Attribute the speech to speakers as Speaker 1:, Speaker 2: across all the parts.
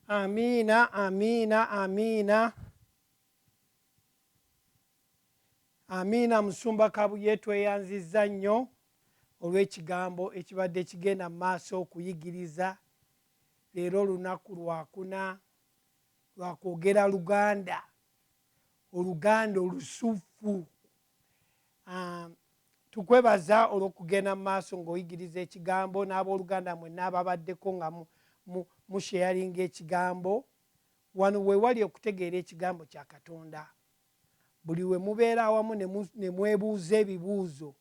Speaker 1: Amina, amina, amina. Amina musumba kabuye tweyanziza nnyo olw'ekigambo ekibadde kigenda mu maaso okuyigiriza leero olunaku lwakuna lwakwogera luganda oluganda olusuffu um, tukwebaza olwokugenda mu maaso ngaoyigiriza ekigambo n'abooluganda mwenna ababaddeko nga musheyalinga ekigambo wano wewali okutegeera ekigambo kya katonda Buli lwe mubeera awamu ne mwebuuza ebibuuzo,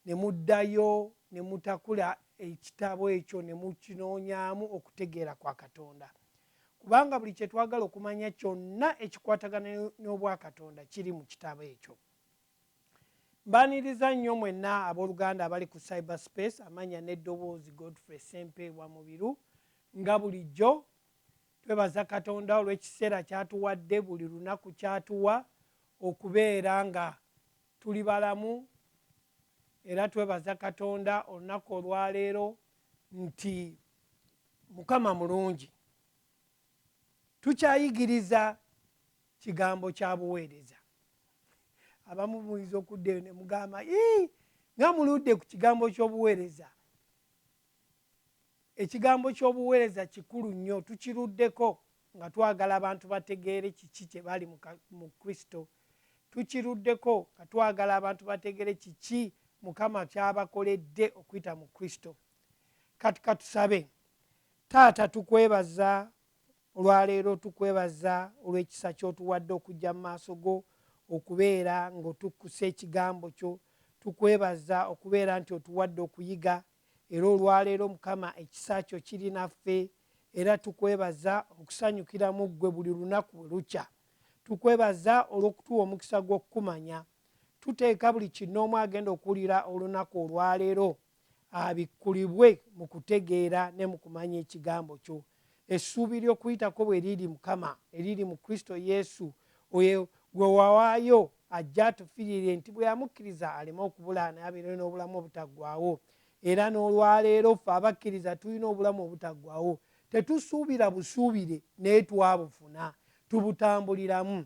Speaker 1: ne muddayo ne mutakula ekitabo ekyo ne mukinoonyaamu okutegeera kwa Katonda. Kubanga buli kye twagala okumanya kyonna ekikwatagana n'Obwakatonda kiri mu kitabo ekyo. Mbaaniriza nnyo mwenna ab'oluganda abali ku Cyberspace, amannya n'eddoboozi Godfrey Ssempeebwa Mubiru, nga bulijjo. Twebaza Katonda olw'ekiseera ky'atuwadde buli lunaku ky'atuwa okubeera nga tuli balamu era twebaza Katonda olunaku olwaleero nti Mukama mulungi. Tukyayigiriza kigambo kya buweereza. Abamu muyinza okudda eyo ne mugamba, Ii, nga muludde ku kigambo ky'obuweereza. Ekigambo ky'obuweereza kikulu nnyo. Tukiruddeko nga twagala abantu bategeere kiki kye bali mu ka, mu Kristo. Tukiruddeko nga twagala abantu bategeere kiki Mukama ky'abakoledde okuyita mu Kristo. Kati ka tusabe. Taata, tukwebaza Olwaleero tukwebaza olw'ekisa ky'otuwadde okujja mu maaso go okubeera ng'otukkusa ekigambo kyo. Tukwebaza okubeera nti otuwadde okuyiga era olwaleero Mukama ekisa kyo kiri naffe era tukwebaza okusanyukira mu ggwe buli lunaku bwe lukya. Tukwebaza olw'okutuwa omukisa gw'okukumanya. Tuteeka buli kinnoomu agenda okuwulira olunaku olwaleero abikkulibwe mu kutegeera ne mu kumanya ekigambo kyo. Essuubi ly'okuyitako bwe liri Mukama eriri mu Kristo Yesu, oyo gwe wawaayo ajje atufirire nti bwe yamukkiriza aleme okubula naye abeere n'obulamu obutaggwawo. Era n'olwaleero ffe abakkiriza tulina obulamu obutaggwawo. Tetusuubira busuubire naye twabufuna. Tubutambuliramu.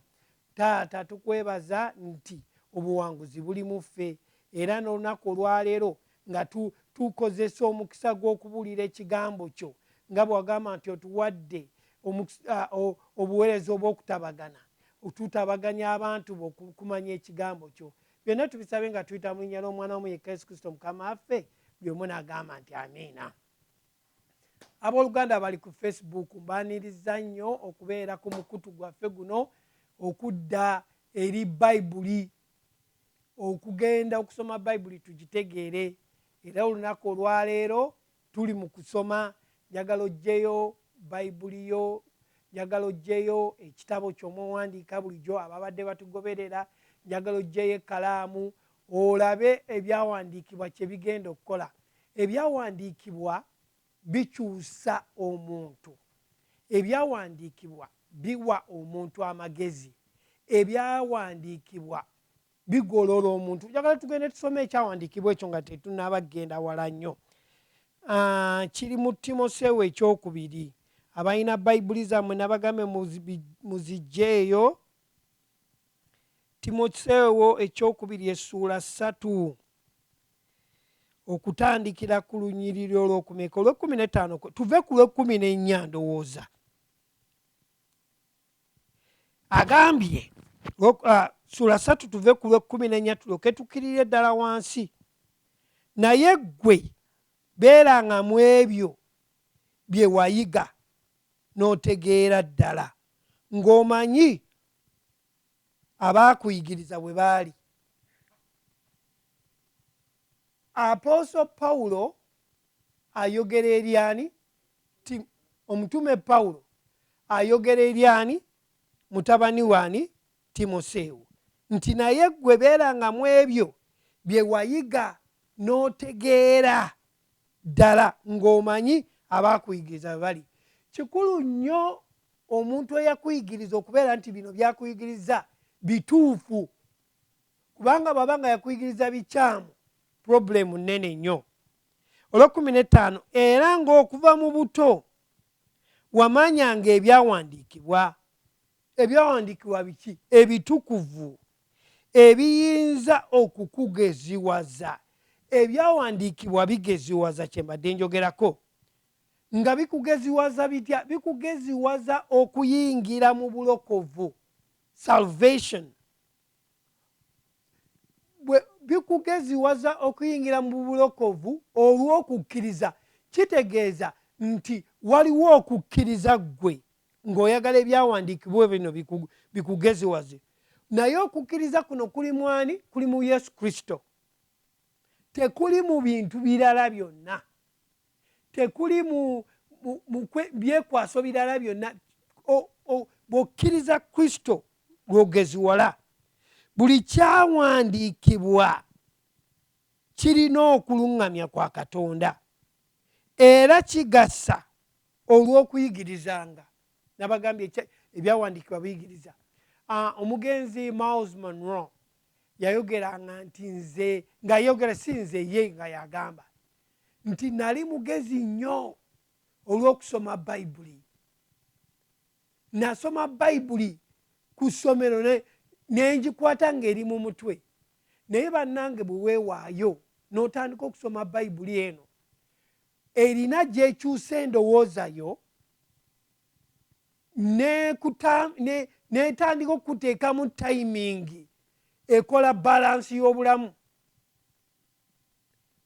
Speaker 1: Taata tukwebaza nti obuwanguzi buli mu ffe era n'olunaku olwaleero nga tu, tukozesa omukisa gw'okubuulira Ekigambo Kyo, nga bwe Wagamba nti Otuwadde omukisa, o, obuweereza obw'okutabagana, tutabaganye abantu Bo ku, kumanya Ekigambo Kyo. Byonna tubisabye nga tuyita mu Linnya ly'Omwana Wo omu yekka, Yesu Kristo Mukama waffe. Buli omu n'agamba nti, Amiina. Abooluganda abali ku Facebook mbaanirizza nnyo okubeera ku mukutu gwaffe guno okudda eri Bayibuli, okugenda okusoma Bayibuli tugitegeere. Era olunaku olwaleero tuli mu kusoma, njagala oggyeyo Bayibuli yo, njagala oggyeyo ekitabo ky'omwewandiika bulijjo ababadde batugoberera, njagala oggyeyo ekkalaamu olabe Ebyawandiikibwa kye bigenda okukola. Ebyawandiikibwa bikyusa omuntu. Ebyawandiikibwa biwa omuntu amagezi. Ebyawandiikibwa bigolola omuntu. Njagala tugende tusome ekyawandiikibwa ekyo nga tetunaaba kugenda wala nnyo. Ah, kiri mu timoseewo ekyokubiri abalina bayibuli zammwe nabagambe muzijjeeyo Timoseewo ekyokubiri essuula ssatu okutandikira ku lunyiriri olwokumeka olwekumi netaano tuve ku lwekumi nenya ndowooza agambye ah, sula satu tuve ku lwekumi nenya tuloke tukirire eddala wansi naye ggwe beeranga mu ebyo bye wayiga n'otegeera ddala ng'omanyi abaakuyigiriza bwe baali apooso pawulo ayogera eri ani ti omutume pawulo ayogera eri ani mutabani waani timoseewo nti naye gwe beeranga mu ebyo bye wayiga n'otegeera ddala ng'omanyi abaakuyigiriza bwe bali. Kikulu nnyo omuntu eyakuyigiriza okubeera nti bino byakuyigiriza bituufu, kubanga bw'aba nga yakuyigiriza bikyamu purobulemu nnene nnyo. Olw'ekkumi n'ettaano, era ng'okuva mu buto wamanyanga ebyawandiikibwa. Ebyawandiikibwa biki? Ebitukuvu. ebiyinza okukugeziwaza. Ebyawandiikibwa bigeziwaza, kye mbadde njogerako. Nga bikugeziwaza bitya? Bikugeziwaza okuyingira mu bulokovu, salvation. Bikugeziwaza okuyingira mu bulokovu olw'okukkiriza. Kitegeeza nti waliwo okukkiriza ggwe ng'oyagala ebyawandiikibwa bino bikugeziwaze naye okukkiriza kuno kuli mwani kuli mu yesu kristo tekuli mu bintu birala byonna tekuli byekwaso birala byonna bw'okkiriza kristo lwogeziwala buli kyawandiikibwa kirina okuluŋŋamya kwa katonda era kigasa olw'okuyigirizanga nabagambye ebyawandiikibwa biyigiriza omugenzi miles monro yayogeranga nti nze ngayogera si nze ye nga yagamba nti nali mugezi nnyo olw'okusoma bayibuli nasoma bayibuli ku ssomero nengikwata ngaeri mu mutwe naye bannange bwe weewaayo n'otandika okusoma bayibuli eno erina gyekyusa endowooza yo netandika okukuteekamu tayimingi ekola balansi y'obulamu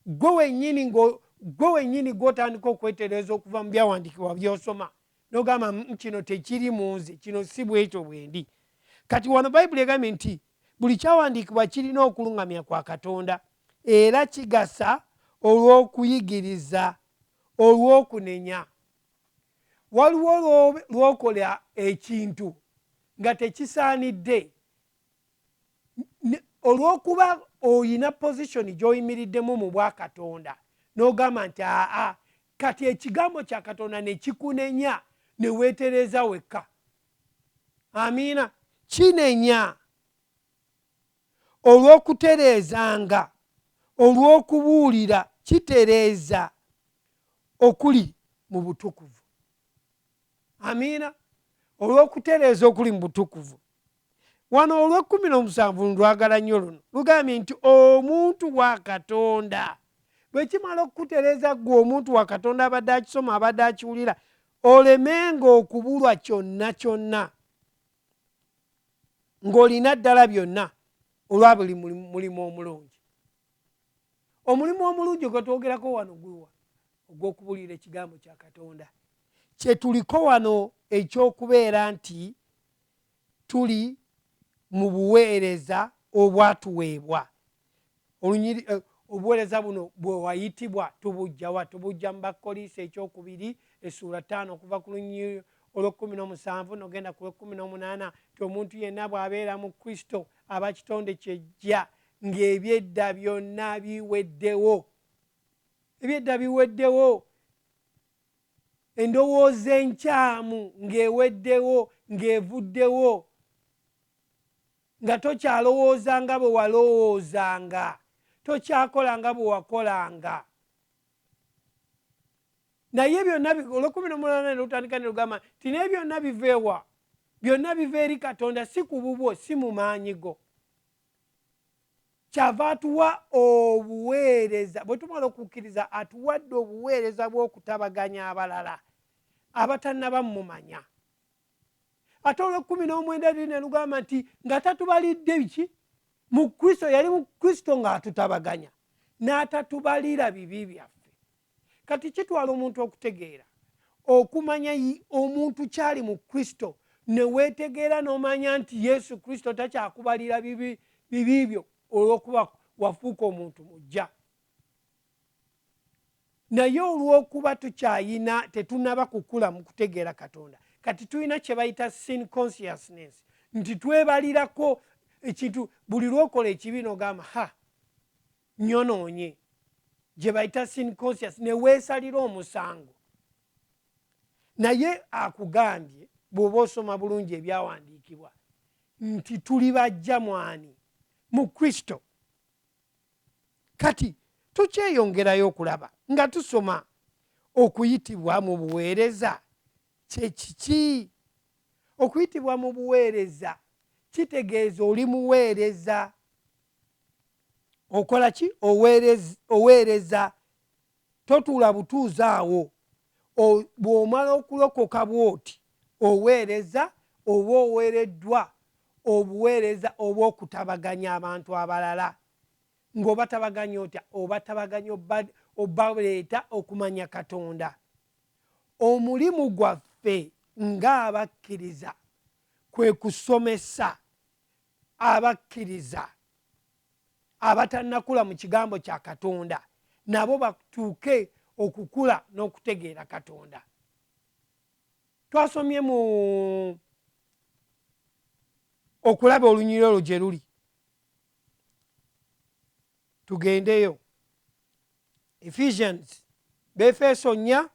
Speaker 1: gwe wenyini gwe wenyini gwotandika okwetereeza okuva mu byawandiikibwa byosoma nogamba mm, kino tekiri mu nze kino si bwekyo bwendi kati wano bayibuli egambye nti buli kyawandiikibwa kirina okuluŋgamya kwa katonda Era kigasa olw'okuyigiriza, olw'okunenya. Waliwo lw'okola ekintu nga tekisaanidde, olw'okuba olina pozisoni gy'oyimiriddemu mu bwa Katonda, n'ogamba nti, Aa, kati Ekigambo kya Katonda ne kikunenya, ne weetereeza wekka. Amiina. Kinenya. olw'okutereezanga, olw'okubuulira, kitereeza okuli mu butukuvu. Amiina. Olw'okutereeza okuli mu butukuvu. Wano olw'ekkumi n'omusanvu ndwagala nnyo luno, lugambye nti omuntu wa Katonda bwe kimala okukutereeza ggwe omuntu wa Katonda abadde akisoma, abadde akiwulira, olemenga okubulwa kyonna kyonna. ng'olina ddala byonna olwa buli mulimu omulungi omulimu omulungi gwe twogerako wano gwewa ogw'okubuulira ekigambo kya katonda kye tuliko wano eky'okubeera nti tuli mu buweereza obwatuweebwa Olunyiri, Obuweereza buno bwe wayitibwa tubujja wa? Tubujja mu Bakkolinso eky'okubiri essuula ttaano okuva ku lunyiri olw'ekkumi n'omusanvu n'ogenda ku lw'ekkumi n'omunaana nti omuntu yenna bw'abeera mu Kristo aba kitonde kyeggya ng'ebyedda byonna biweddewo. Ebyedda biweddewo. Endowooza enkyamu ng'eweddewo, ng'evuddewo. Nga tokyalowooza nga bwe walowoozanga, tokyakola nga bwe wakolanga. Naye byonna olwekumi nomulana nelutandika nelugamba nti naye byonna biveewa, byonna biva eri Katonda, si ku bubwo, si mu maanyi go. Kyava atuwa obuweereza, bwe tumala okukkiriza atuwadde obuweereza bw'okutabaganya abalala abatanaba mumanya. ate olwekumi n'omwenda luli nelugamba nti nga tatubalidde biki mu kristo yali mu kristo ng'atutabaganya n'atatubalira bibi byaffe kati kitwala omuntu okutegeera okumanya omuntu kyali mu kristo newetegeera n'omanya nti yesu kristo takyakubalira bibi byo olwokuba wafuuka omuntu mujja naye olwokuba tukyayina tetunaba kukula mu kutegeera katonda kati tulina kyebayita sin consciousness nti twebalirako ekintu buli lwokola ekibi nogamba ha nyonoonye gyebayita sin conscious neweesalira omusango naye akugambye bwoba osoma bulungi ebyawandiikibwa nti tuli bajja mwani mu kristo kati tukyeyongerayo okulaba nga tusoma okuyitibwa mu buweereza kyekiki okuyitibwa mu buweereza kitegeeza oli muweereza okola ki oweereza totuula butuuzi awo bw'omala okulokoka bw'oti oweereza oba oweereddwa obuweereza obw'okutabaganya abantu abalala ng'obatabaganya otya obatabaganya obaleeta okumanya katonda omulimu gwaffe ng'abakkiriza kwe kusomesa abakkiriza abatanakula mu kigambo kya katonda nabo batuuke okukula n'okutegeera katonda twasomye mu okulaba olunyiri olwo gye luli tugendeyo ephesians befeeso nnya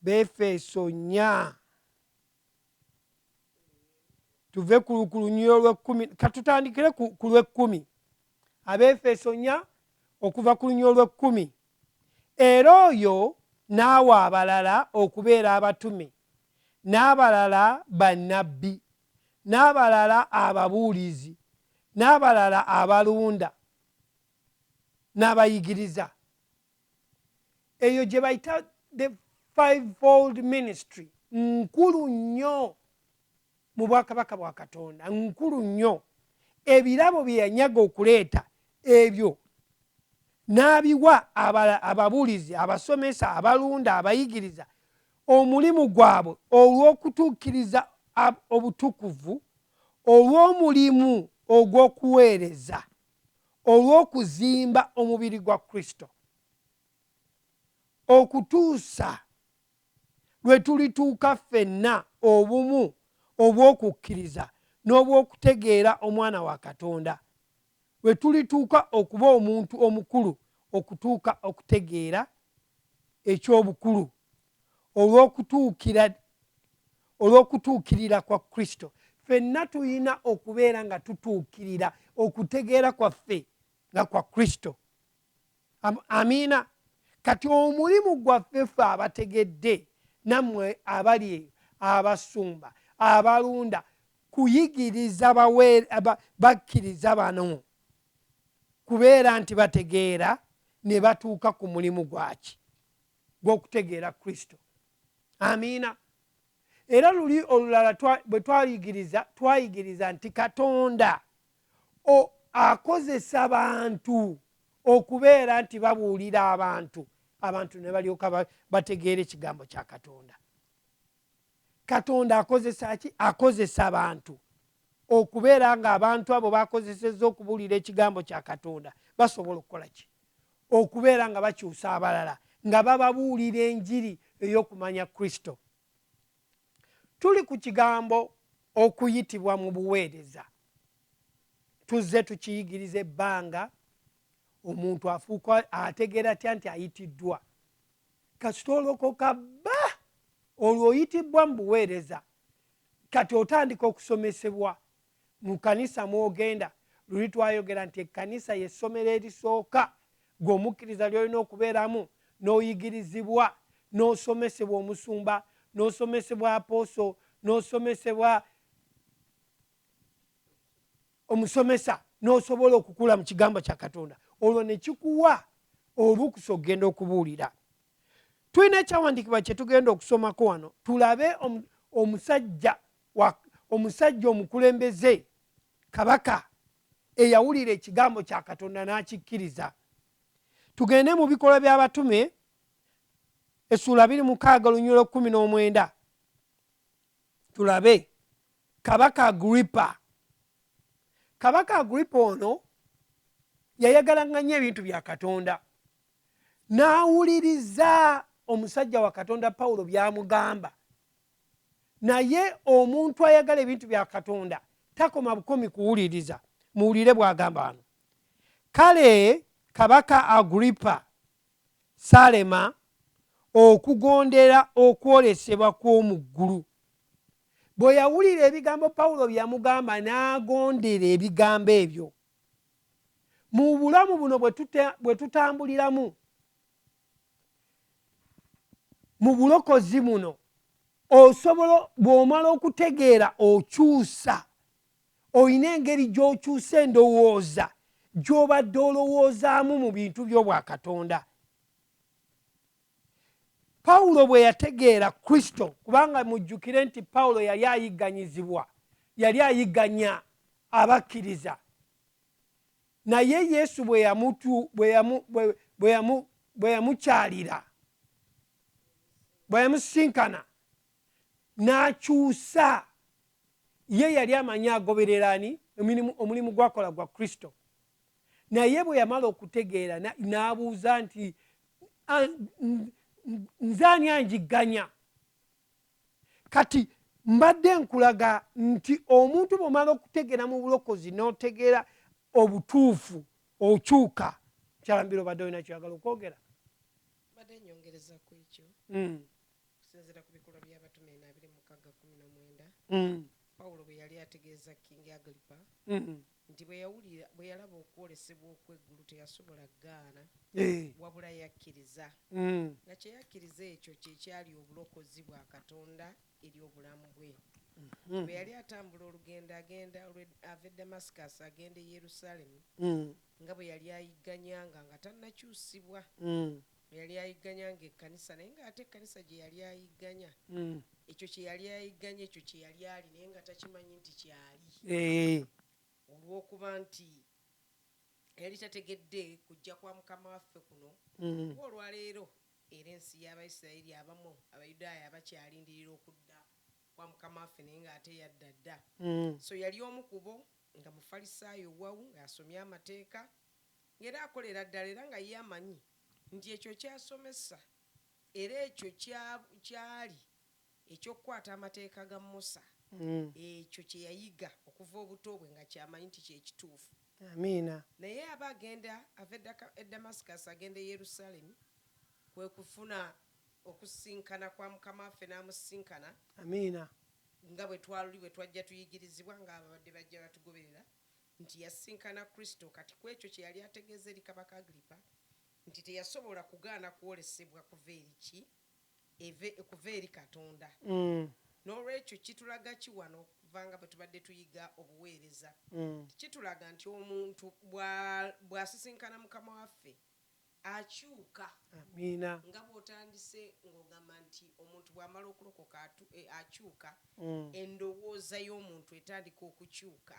Speaker 1: befeeso nnya tuve ku lunyiriro lwekkumi katutandikire ku lwekkumi abeefeso nya okuva ku lunyiriro lwekkumi era oyo n'awa abalala okubeera abatume n'abalala bannabbi n'abalala ababuulizi n'abalala abalunda n'abayigiriza eyo gye bayita the fivefold ministry nkulu nnyo mu bwakabaka bwa katonda nkulu nnyo ebirabo bye yanyaga okuleeta ebyo n'abiwa ababuulizi abasomesa abalunda abayigiriza omulimu gwabwe olw'okutuukiriza obutukuvu olw'omulimu ogw'okuweereza olw'okuzimba omubiri gwa kristo okutuusa lwe tulituuka ffenna obumu obw'okukkiriza n'obw'okutegeera omwana wa katonda lwe tulituuka okuba omuntu omukulu okutuuka okutegeera eky'obukulu olw'okutuukirira kwa Kristo. Ffenna tulina okubeera nga tutuukirira okutegeera kwaffe nga kwa Kristo. Amiina. Kati omulimu gwaffe ffe abategedde nammwe abali eyo abasumba abalunda kuyigiriza bakkiriza bano kubeera nti bategeera ne batuuka ku mulimu gwaki gw'okutegeera Kristo. Amiina. Era luli olulala bwe twayigiriza twayigiriza nti Katonda akozesa bantu okubeera nti babuulira abantu abantu ne balyoka bategeera ekigambo kya Katonda. Katonda akozesa ki? Akozesa bantu okubeera nga abantu abo bakozesezza okubuulira ekigambo kya Katonda basobola okukola ki? Okubeera nga bakyusa abalala nga bababuulira enjiri ey'okumanya Kristo. Tuli ku kigambo okuyitibwa mu buweereza. Tuzze tukiyigiriza ebbanga omuntu afuuka ategeera atya nti ayitiddwa kasita olokoka bba olwo oyitibbwa mu buweereza kati otandika okusomesebwa mu kanisa mwogenda luli twayogera nti ekkanisa yessomero erisooka gwe omukkiriza lyolina okubeeramu n'oyigirizibwa n'osomesebwa omusumba n'osomesebwa apooso n'osomesebwa omusomesa n'osobola okukula mu kigambo kya katonda olwo nekikuwa olukusa okugenda okubuulira tulina ekyawandiikibwa kyetugenda okusomako wano tulabe omusajja omusajja omukulembeze kabaka eyawulira ekigambo kya katonda n'akikkiriza tugende mu bikolwa by'abatume essuula biri mukaaga olunyulo kumi n'omwenda tulabe Kabaka Agripa. Kabaka Agripa ono yayagalaŋŋa nnyo ebintu bya Katonda, n'awuliriza omusajja wa Katonda Pawulo by'amugamba. Naye omuntu ayagala ebintu bya Katonda takoma bukomi kuwuliriza. Muwulire bw'agamba wano, kale Kabaka Agripa Saalema okugondera okwolesebwa kw'omu ggulu. Bwe yawulira ebigambo Pawulo bye yamugamba n'agondera ebigambo ebyo. Mu bulamu buno bwe tutambuliramu, mu bulokozi buno osobola bw'omala okutegeera okyusa olina engeri gy'okyusa endowooza gy'obadde olowoozaamu mu bintu by'obwakatonda pawulo bwe yategeera kristo kubanga mujjukire nti pawulo yali ayigganyizibwa yali ayigganya abakkiriza naye yesu bwe yamukyalira bwe yamusinkana n'akyusa ye yali amanyi agoberera ani omulimu gwakola gwa kristo naye bwe yamala okutegeera n'abuuza nti nze ani anjigganya kati mbadde nkulaga nti omuntu bwomala okutegeera mu bulokozi n'otegeera obutuufu okyuka kyalambira obadde olina kyoyagala okwogera mbadde
Speaker 2: nyongereza ku ekyo hmm. Mm. pawulo bwe yali ategeeza kingi agripa mm. nti bwe yawulira bwe yalaba okwolesebwa okw'eggulu teyasobola gaana eh. wabula yakkiriza mm. nga kye yakkiriza ekyo kye kyali obulokozi bwa katonda eri obulamu bwe mm-hmm. bwe yali atambula olugendo agenda ava e damascus agenda e yerusalemu mm. nga bwe yali ayigganyanga nga tannakyusibwa Bwe yali ayigganya nga ekkanisa, naye nga ate ekkanisa gye yali ayigganya, ekyo kye yali ayigganya, ekyo kye yali ali, naye nga takimanyi nti ky'ali. Eeh. Olw'okuba nti yali tategedde kujja kwa Mukama waffe kuno, kuba olwa leero era ensi y'Abayisirayiri abamu, Abayudaaya, bakyalindirira okudda kwa Mukama waffe, naye nga ate yadda dda. So yali omu ku bo, nga Mufalisaayo, wawu, nga asomye Amateeka. Era akolera ddala era nga ye amanyi nti ekyo ky'asomesa era ekyo ky'ali, eky'okukwata amateeka ga Musa, ekyo kye yayiga okuva obuto bwe nga ky'amanyi nti ky'ekituufu.
Speaker 1: Naye aba agenda
Speaker 2: ava e Damascus agenda e Yerusalemi, kwe kufuna okusisinkana kwa Mukama waffe n'amusisinkana,
Speaker 1: nga bwe
Speaker 2: twaluli bwe twajja tuyigirizibwa, nga ababadde bajja batugoberera, nti yasisinkana Kristo, kati ku ekyo kye yali ategeeza eri Kabaka Agiripa nti teyasobola kugaana kwolesebwa kuva eri ki? Eve, kuva eri Katonda. N'olwekyo, kitulaga ki wano, okuva nga bwe tubadde tuyiga obuweereza? Nti kitulaga nti omuntu bwa, bw'asisinkana Mukama waffe, akyuka. Amiina.
Speaker 1: Nga bw'otandise
Speaker 2: ng'ogamba nti omuntu bw'amala okulokoka atu, e, akyuka, endowooza y'omuntu etandika okukyuka.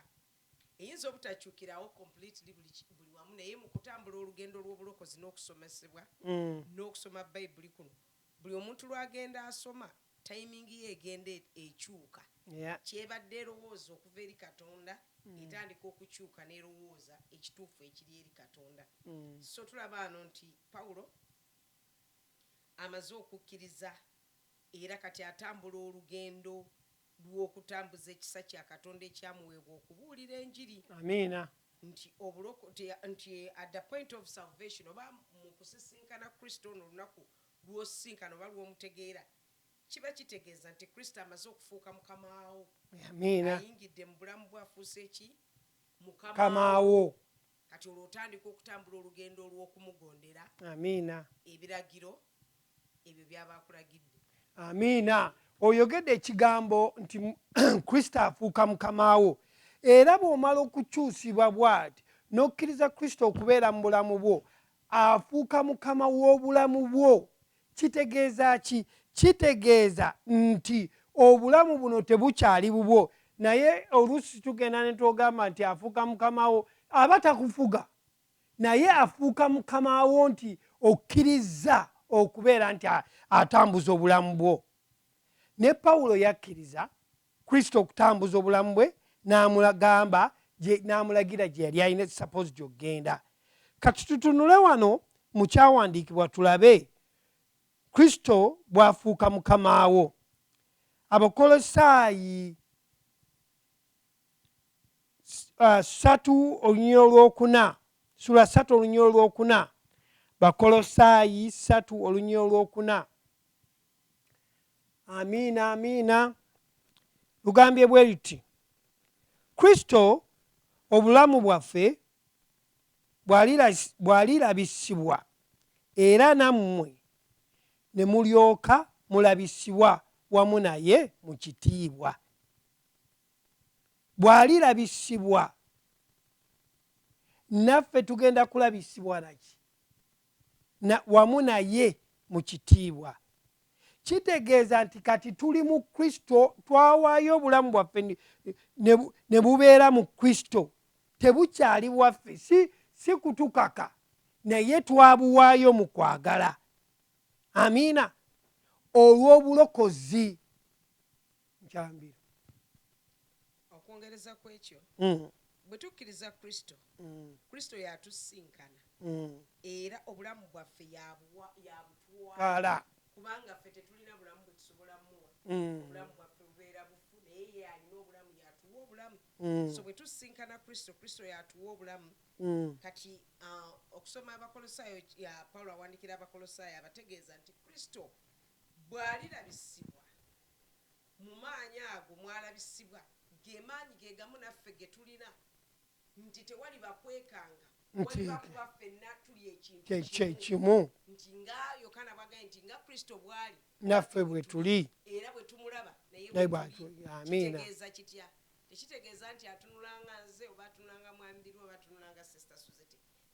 Speaker 2: Eyinza obutakyukirawo completely buli, buli wamu, naye mu kutambula olugendo lw'obulokozi n'okusomesebwa n'okusoma Bayibuli kuno, buli omuntu lw'agenda asoma, Timing ye egenda ekyuka. Yeah. Ky'ebadde erowooza okuva eri Katonda etandika okukyuka n'erowooza ekituufu ekiri eri Katonda. So tulaba wano nti Pawulo amaze okukkiriza era kati atambula olugendo lw'okutambuza ekisa kya Katonda ekyamuweebwa okubuulira enjiri. Amiina.
Speaker 1: Nti
Speaker 2: obulokote, nti at the point of salvation, oba mu kusisinkana Kristo ono olunaku lw'osisinkana oba lw'omutegeera, kiba kitegeeza nti Kristo amaze okufuuka Mukama wo. Amiina. Ayingidde
Speaker 1: mu bulamu
Speaker 2: bwo, afuuse ki? Mukama Mukama
Speaker 1: wo. wo. Kati olwo otandika
Speaker 2: okutambula olugendo olw'okumugondera Amiina.
Speaker 1: ebiragiro
Speaker 2: ebyo by'aba akulagidde. Amiina.
Speaker 1: Oyogedde ekigambo nti mu- Kristo afuuka Mukama wo. Era bw'omala okukyusibwa bw'ati, n'okkiriza Kristo okubeera mu bulamu bwo, Afuuka Mukama w'obulamu bwo. Kitegeeza ki? Kitegeeza nti obulamu buno tebukyali bubwo. Naye oluusi tugenda ne twogamba nti afuuka mukama wo. Aba takufuga, naye afuuka mukama wo nti okkirizza okubeera nti atambuza obulamu bwo. Ne Pawulo yakkiriza Kristo okutambuza obulamu bwe n'amulagamba n'amulagira gye yali alina supposed okugenda. Kati tutunule wano mu kyawandiikibwa tulabe Kristo bw'afuuka mukama wo. Abakolosaayi uh, satu olunyira olwokuna sula satu olunyira olwokuna bakolosaayi satu olunyira olwokuna amiina amiina lugambye bwe liti kristo obulamu bwaffe bwalirabisibwa era nammwe ne mulyoka mulabisibwa wamu naye mu kitiibwa bwalirabisibwa naffe tugenda kulabisibwa naki na, wamu naye mu kitiibwa. Kitegeeza nti kati tuli mu Kristo, twawaayo obulamu bwaffe ne bubeera mu Kristo, tebukyali bwaffe, si, si kutukaka, naye twabuwaayo mu kwagala. Amiina. Olw'obulokozi. nkyambira
Speaker 2: okwongereza ku ekyo mm. bwe tukkiriza kristo mm. kristo yatusisinkana mm. era obulamu bwaffe yabutwala kubanga ffe tetulina bulamu bwe tusobola muwa obulamu bwaffe bubeera bufu naye ye alina obulamu yatuwa obulamu so bwe tusisinkana kristo kristo yatuwa obulamu kati uh, okusoma abakolosaayo pawulo awandikira abakolosaayo abategeeza nti kristo bw'alirabisibwa Mu maanyi ago mwalabisibwa, ge maanyi ge gamu naffe ge tulina, nti tewaliba kwekanga waliba, kuba ffenna tuli ekintu kye kimu, nti
Speaker 1: nga
Speaker 2: Yokaana bw'agambye nti, Nga Kristo bw'ali, naffe bwe tuli,
Speaker 1: era bwe tumulaba,
Speaker 2: naye bwe tuli.
Speaker 1: Kitegeeza kitya?
Speaker 2: Tekitegeeza nti atunula nga nze, oba atunula nga Mwami Billy, oba atunula nga Sister Suzette.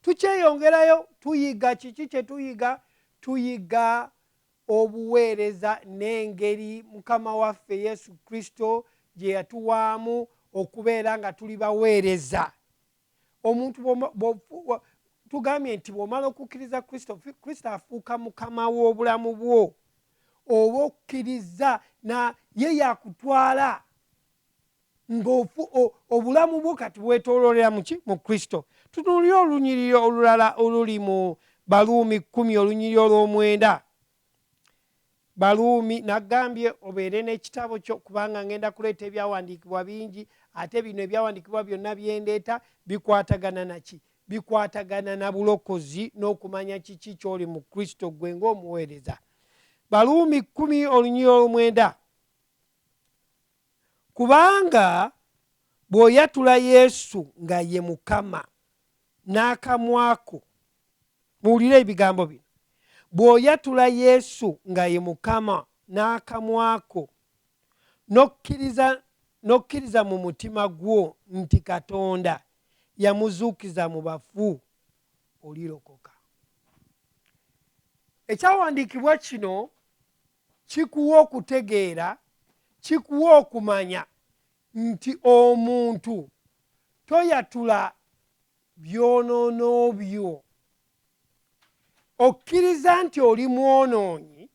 Speaker 1: Tukyeyongerayo tuyiga. Kiki kye tuyiga? Tuyiga obuweereza n'engeri Mukama waffe Yesu Kristo gye yatuwaamu okubeera nga tuli baweereza. Omuntu tugambye nti bw'omala okukkiriza Kristo, Kristo afuuka mukama w'obulamu bwo, oba okkirizza na ye yakutwala ngaofu obulamu bwo kati bwetololera muki mu kristo tutunulire olunyiriri olulala oluli mu baluumi kumi olunyiriri olwomwenda baluumi nagambye obeere n'ekitabo kyo kubanga ngenda kuleeta ebyawandiikibwa bingi ate bino ebyawandiikibwa byonna byendeeta bikwatagana naki bikwatagana na bulokozi n'okumanya kiki kyoli mu kristo gwe ngaomuweereza baluumi kumi olunyiriri olwomwenda Kubanga bw'oyatula Yesu nga ye Mukama n'akamwa ko, muwulire ebigambo bino, bw'oyatula Yesu nga ye Mukama n'akamwa ko, n'okkiriza n'okkiriza mu mutima gwo nti Katonda yamuzuukiza mu bafu, olirokoka. Ekyawandiikibwa kino kikuwa okutegeera kikuwa okumanya nti omuntu toyatula byonoono byo okkiriza nti oli mwonoonyi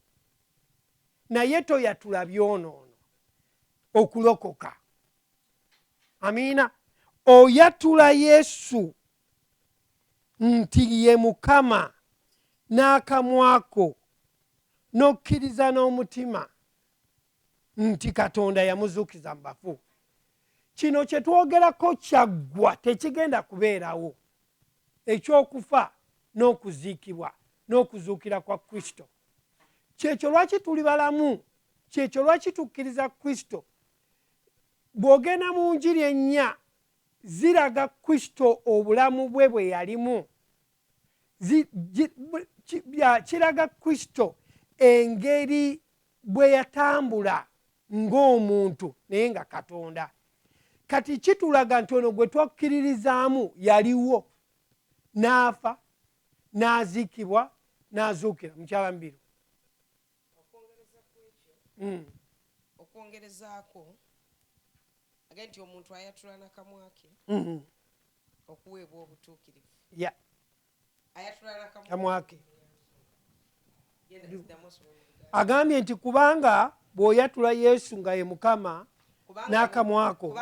Speaker 1: naye toyatula byonoono okulokoka amiina oyatula yesu nti ye mukama n'akamwako n'okkiriza n'omutima nti katonda yamuzuukiza mu bafu kino kye twogerako kyaggwa tekigenda kubeerawo ekyokufa n'okuziikibwa n'okuzuukira kwa kristo kyekyo lwaki tuli balamu kyekyo lwaki tukkiriza kristo bw'ogenda mu njiri ennya Ziraga Kristo obulamu bwe bwe yalimu. Zi, gi, ki, bya, kiraga Kristo engeri bwe yatambula ng'omuntu naye nga Katonda. Kati kitulaga nti ono gwe twakkiririzaamu yaliwo n'afa n'aziikibwa n'azuukira mukyala mubiru Mm.
Speaker 2: okwongerezaako age nti omuntu ayatula nakamwa ke mm-hmm. okuweebwa obutuukirivu ayatula nakamwa ke agambye nti kubanga bw'oyatula yesu nga ye mukama n'akamwako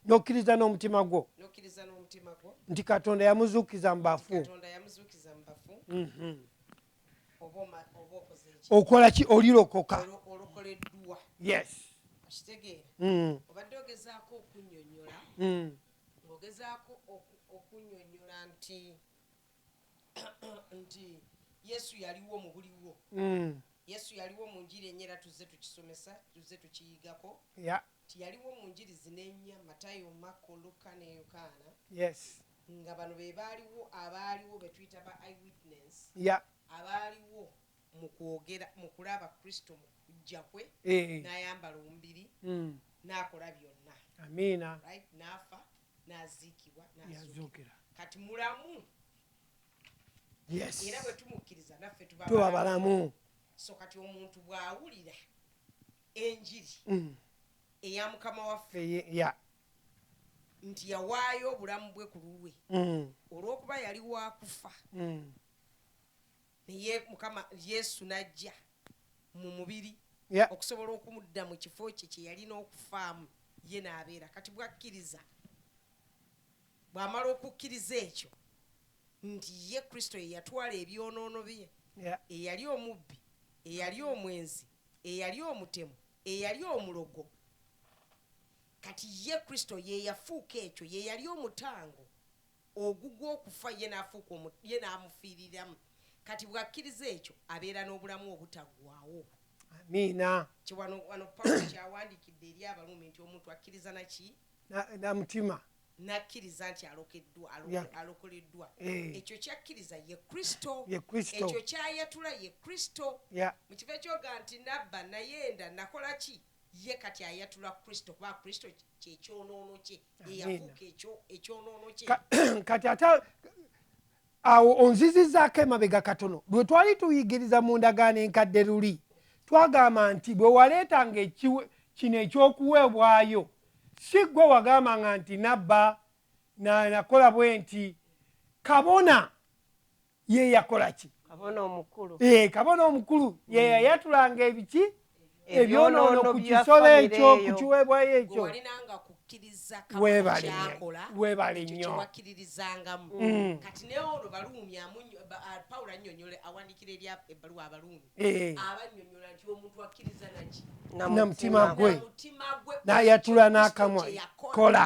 Speaker 2: n'okkiriza n'omutima
Speaker 1: gwo nti katonda yamuzuukiza mu bafu mm-hmm. okola ki olirokoka yes okitegeera
Speaker 2: mm. obadde ogezaako okunyonyola mm. ogezaako okunyonyola nti nti yesu yaliwo mu buliwo mm. yesu yaliwo mu njiri enye era tuzze tukisomesa tuzze tukiyigako nti yaliwo mu njiri zina enya matayo makko lukka ne yokaana nga bano be baaliwo abaaliwo be tuyita ba eyewitness yeah. abaaliwo mu kwogera mu kulaba kristo mu kujja kwe eh, eh. n'ayambala omubiri mm. n'akola byonna amiina right
Speaker 1: n'afa
Speaker 2: n'aziikibwa n'azuukira yazuukira kati mulamu yes era bwe tumukkiriza naffe tuba tuba balamu
Speaker 1: so kati
Speaker 2: omuntu bw'awulira enjiri mm. eya mukama waffe Eye- yeah. nti yawaayo obulamu bwe ku lulwe mm. olw'okuba yali wakufa mm. naye mukama yesu n'ajja mu mubiri okusobola okumudda mu kifo kye kye yalina okufaamu ye n'abeera kati bwakkiriza bw'amala okukkiriza ekyo nti ye kristo ye yatwala ebyonoono bye eyali omubbi eyali omwenzi eyali omutemu eyali omulogo Kati Ye, Kristo, Ye yafuuka ekyo, Ye yali omutango ogugw'okufa, Ye n'afuuka omu, Ye n'amufiiriramu. Kati bw'akkiriza ekyo, abeera n'Obulamu Obutaggwaawo. Amiina.
Speaker 1: Kye, wano, wano
Speaker 2: Pawulo ky'awandiikidde eri Abaruumi nti, Omuntu akkiriza na ki? Na, na mutima.
Speaker 1: N'akkiriza nti
Speaker 2: alokeddwa, alo, yeah. alokoleddwa. Eh. Ekyo ky'akkiriza ye Kristo. Ye Kristo. Ekyo ky'ayatula ye Kristo. Yeah. Mu kifo eky'oga nti nabba, nayenda, nakola ki? Ye kati ayatula Kristo, kuba Kristo kye kyonoono kye, ye yafuuka
Speaker 1: ekyonoono kye. Kati ate awo onzizizaako emabega katono, lwe twali tuyigiriza mu ndagaano enkadde luli, twagamba nti bwe waleetanga kino eky'okuweebwayo, si ggwe wagambanga nti nabba, nakola bwe nti, kabona. ye yakola ki kabona omukulu ee kabona omukulu mm. ye yayatulanga ebiki ebyonoono ku kisolo ekyo ku kiweebwayo ekyo webale webale nnyo mm.
Speaker 2: kati naye olwo baluumi pawulo annyonyola awandikira eri ebbaluwa abaluumi eh. abannyonyola nti omuntu akkiriza naki namutima
Speaker 1: gwe nayatula n'akamwa kola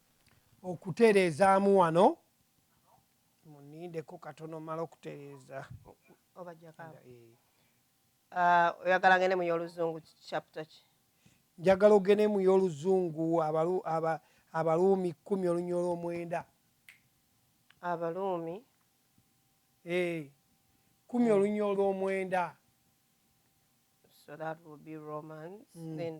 Speaker 1: okutereezaamu wano munindeko katono mala okutereeza ah,
Speaker 3: oyagala ngende mu y'oluzungu chapter ki njagala ogende
Speaker 1: mu y'oluzungu abaluumi kkumi olunya olw'omwenda abaluumi
Speaker 3: eh,
Speaker 1: kkumi hmm. olunya olw'omwenda
Speaker 3: so that will be romans mm, then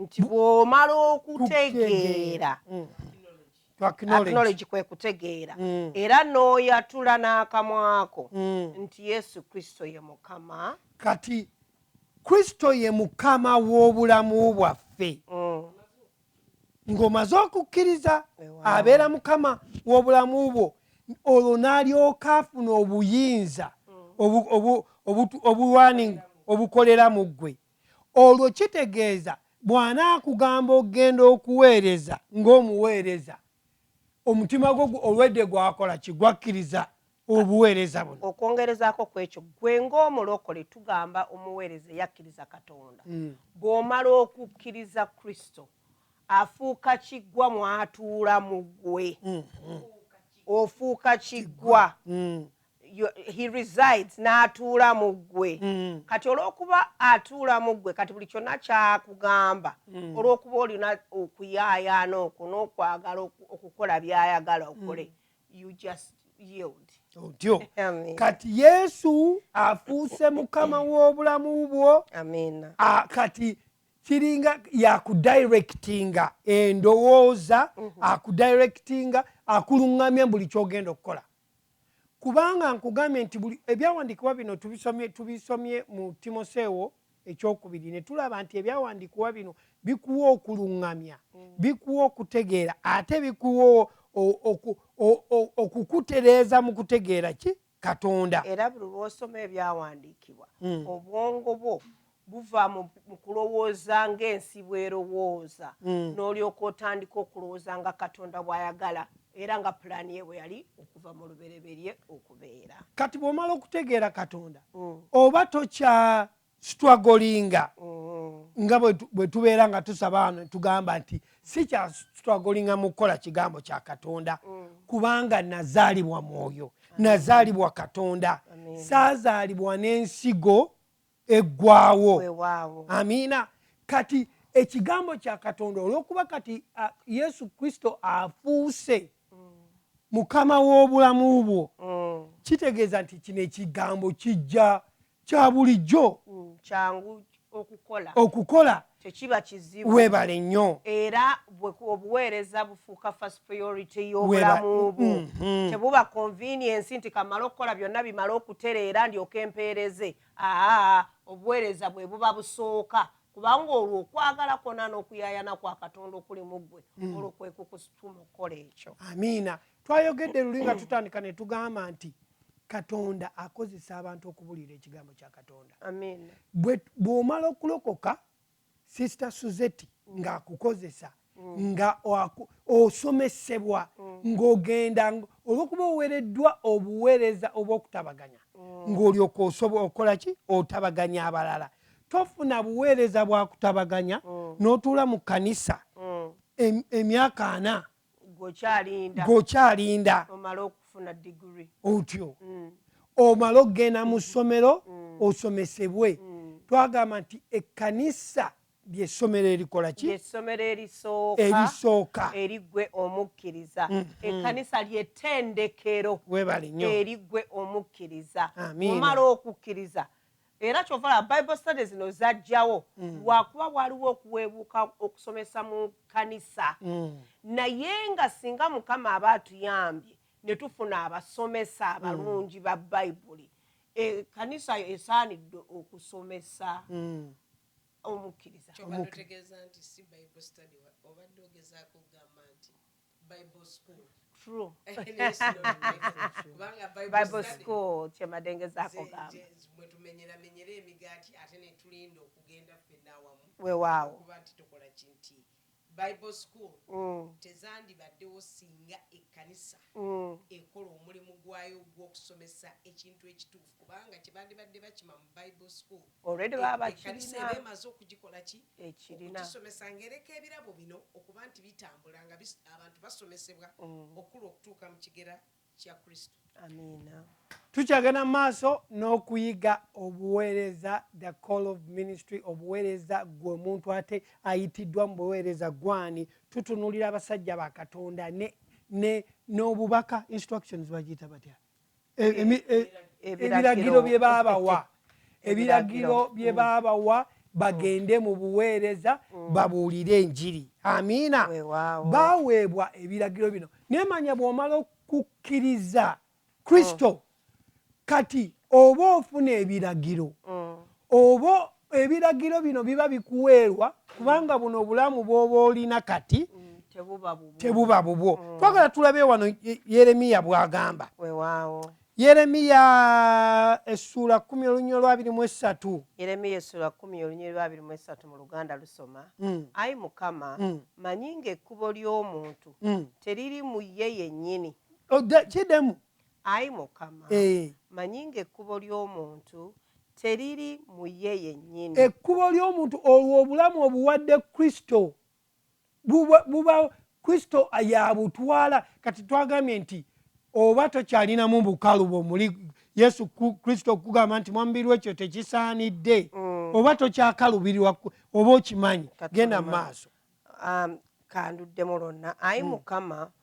Speaker 3: nti bw'omala okutegeera mm. aknowlegi kwe kutegeera mm. era n'oyatula n'akamwako mm. nti yesu kristo ye mukama kati
Speaker 1: kristo ye mukama w'obulamu bwaffe ng'omaze okukkiriza abeera mukama w'obulamu bwo olwo n'alyoka afuna obuyinza obulwaning obukolera mu ggwe olwo kitegeeza bw'anaakugamba okugenda okuweereza ng'omuweereza omutima gwo olwedde gwakola ki gwakkiriza obuweereza buno okwongerezaako ku ekyo
Speaker 3: gwe ng'omulokole tugamba omuweereza eyakkiriza katonda mm. bw'omala okukkiriza kristo afuuka kiggwa mw'atuula mu ggwe mm, mm. ofuuka kiggwa he resides n'atuula mu ggwe mm. kati olw'okuba atuula mu ggwe kati buli kyonna kyakugamba mm. olw'okuba olina okuyaayaana okwo n'okwagala okukola by'ayagala okole mm. you just yield
Speaker 1: otyo kati yesu afuuse mukama w'obulamu bwo kati kiringa yakudirectinga endowooza mm-hmm. akudirectinga akuluŋŋamya buli kyogenda okukola Kubanga nkugambye nti buli ebyawandiikibwa bino tubisomye tubisomye mu Timoseewo ekyokubiri ne tulaba nti ebyawandiikibwa bino bikuwa okuluŋŋamya, mm. bikuwa okutegeera ate bikuwa okukutereeza mu kutegeera ki Katonda. Era buli lw'osoma
Speaker 3: ebyawandiikibwa mm. obwongo bwo buva mu kulowooza ng'ensi bw'erowooza hmm. n'olyoka otandika okulowooza nga katonda bw'ayagala era nga pulaani ye bwe yali okuva mu lubereberye okubeera kati bw'omala
Speaker 1: okutegeera katonda hmm. oba tokya sitwagolinga hmm. nga bwe tubeera nga tusaba ano tugamba nti si kya sitwagolinga mu kukola kigambo kya katonda kubanga nazaalibwa mwoyo nazaalibwa katonda saazaalibwa n'ensigo eggwawo amiina kati ekigambo kya katonda olwokuba kati uh, yesu kristo afuuse mm. mukama w'obulamu bwo mm. kitegeeza nti kino ekigambo kijja kya bulijjo mm. kyangu
Speaker 3: okukola
Speaker 1: okukola tekiba
Speaker 3: kizibu webale nnyo
Speaker 1: era
Speaker 3: obuweereza bufuuka first priority y'obulamu bwo mm-hmm. tebuba convenience nti kamala okukola byonna bimala okutereera ndyoka empeereze Aa, obuweereza bwe buba busooka, kubanga olwo okwagala kwonna n'okuyaayana kwa Katonda okuli mu ggwe, mm. olwo kwe kukusituma okukola ekyo. Amiina.
Speaker 1: Twayogedde luli nga tutandika ne tugamba nti katonda akozesa abantu okubuulira ekigambo kya katonda
Speaker 3: bw'omala
Speaker 1: okulokoka sister suzeti ng'akukozesa mm. nga osomesebwa mm. ng'ogenda olwokuba owereddwa obuweereza obw'okutabaganya mm. ng'olyoka osobola okukola ki otabaganya abalala tofuna buweereza bwa kutabaganya n'otuula mu kanisa emyaka ana gweokyalinda
Speaker 3: otyo mm.
Speaker 1: omala okugenda mu ssomero mm. osomesebwe mm. twagamba nti ekkanisa lyessomero erikola ki essomero erisooka
Speaker 3: erisooka
Speaker 1: erigwe
Speaker 3: omukkiriza mm, mm. ekkanisa lyetendekero webale nyo erigwe omukkiriza omala okukkiriza Era kyova olaba bible study zino zajjawo mm. lwakuba waliwo okuwebuuka okusomesa mu kanisa mm. naye nga singa mukama aba atuyambye netufuna abasomesa mm. abalungi mm. ba bayibuli e, kanisa yo esaanidde okusomesa mm.
Speaker 2: omukkiriza
Speaker 3: true bible school kyemadengezako
Speaker 2: gamba wewaawo bible school mm. tezandibaddewo singa ekkanisa mm. ekola omulimu gwayo ogw'okusomesa ekintu ekituufu Kubanga kyebandibadde bakima mu Bible school ekkanisa eba emaze okugikola ki? Okugisomesa ng'ereka ebirabo bino okuba nti bitambula nga abantu basomesebwa okukula okutuuka mu kigera kya Kristo. Amiina.
Speaker 3: Tukyagenda mu
Speaker 1: maaso n'okuyiga obuweereza, the call of ministry, obuweereza gwe omuntu ate ayitiddwa mu buweereza gwani. Tutunuulira abasajja ba Katonda ne n'obubaka instructions bagiyita batya? ebiragiro bye baabawa ebiragiro bye mm. baabawa bagende mu buweereza mm. babuulire enjiri amiina baweebwa ebiragiro bino naye manya bw'omala okukkiriza kristo mm. kati oba ofuna ebiragiro Oba ebiragiro bino biba bikuweerwa kubanga buno obulamu bw'oba olina kati mm, tebuba bubwo. Mm. Twagala tulabe wano Yeremiya bw'agamba. Yeremiya essuula kkumi olunyiri olwabiri mu essatu. Yeremiya essuula
Speaker 3: kkumi olunyiri lwabiri mu essatu mu Luganda lusoma. Mm. Ayi Mukama, mm. manyi ng'ekkubo ly'omuntu mm. teriri mu ye yennyini. Oh, Kidemu.
Speaker 1: Ayi
Speaker 3: Mukama, mmanyi ng'ekkubo ly'omuntu teriri mu ye yennyini. Ekkubo ly'omuntu
Speaker 1: olwo obulamu obuwadde Kristo buba Kristo y'abutwala. Kati twagambye nti oba tokyalinamu bukalu bwomuli Yesu Kristo okugamba nti mwamubiri wekyo tekisaanidde mm. oba tokyakalubirirwa oba okimanyi genda mu maaso. Um,
Speaker 3: kanduddemu lwonna ayi mm. mukama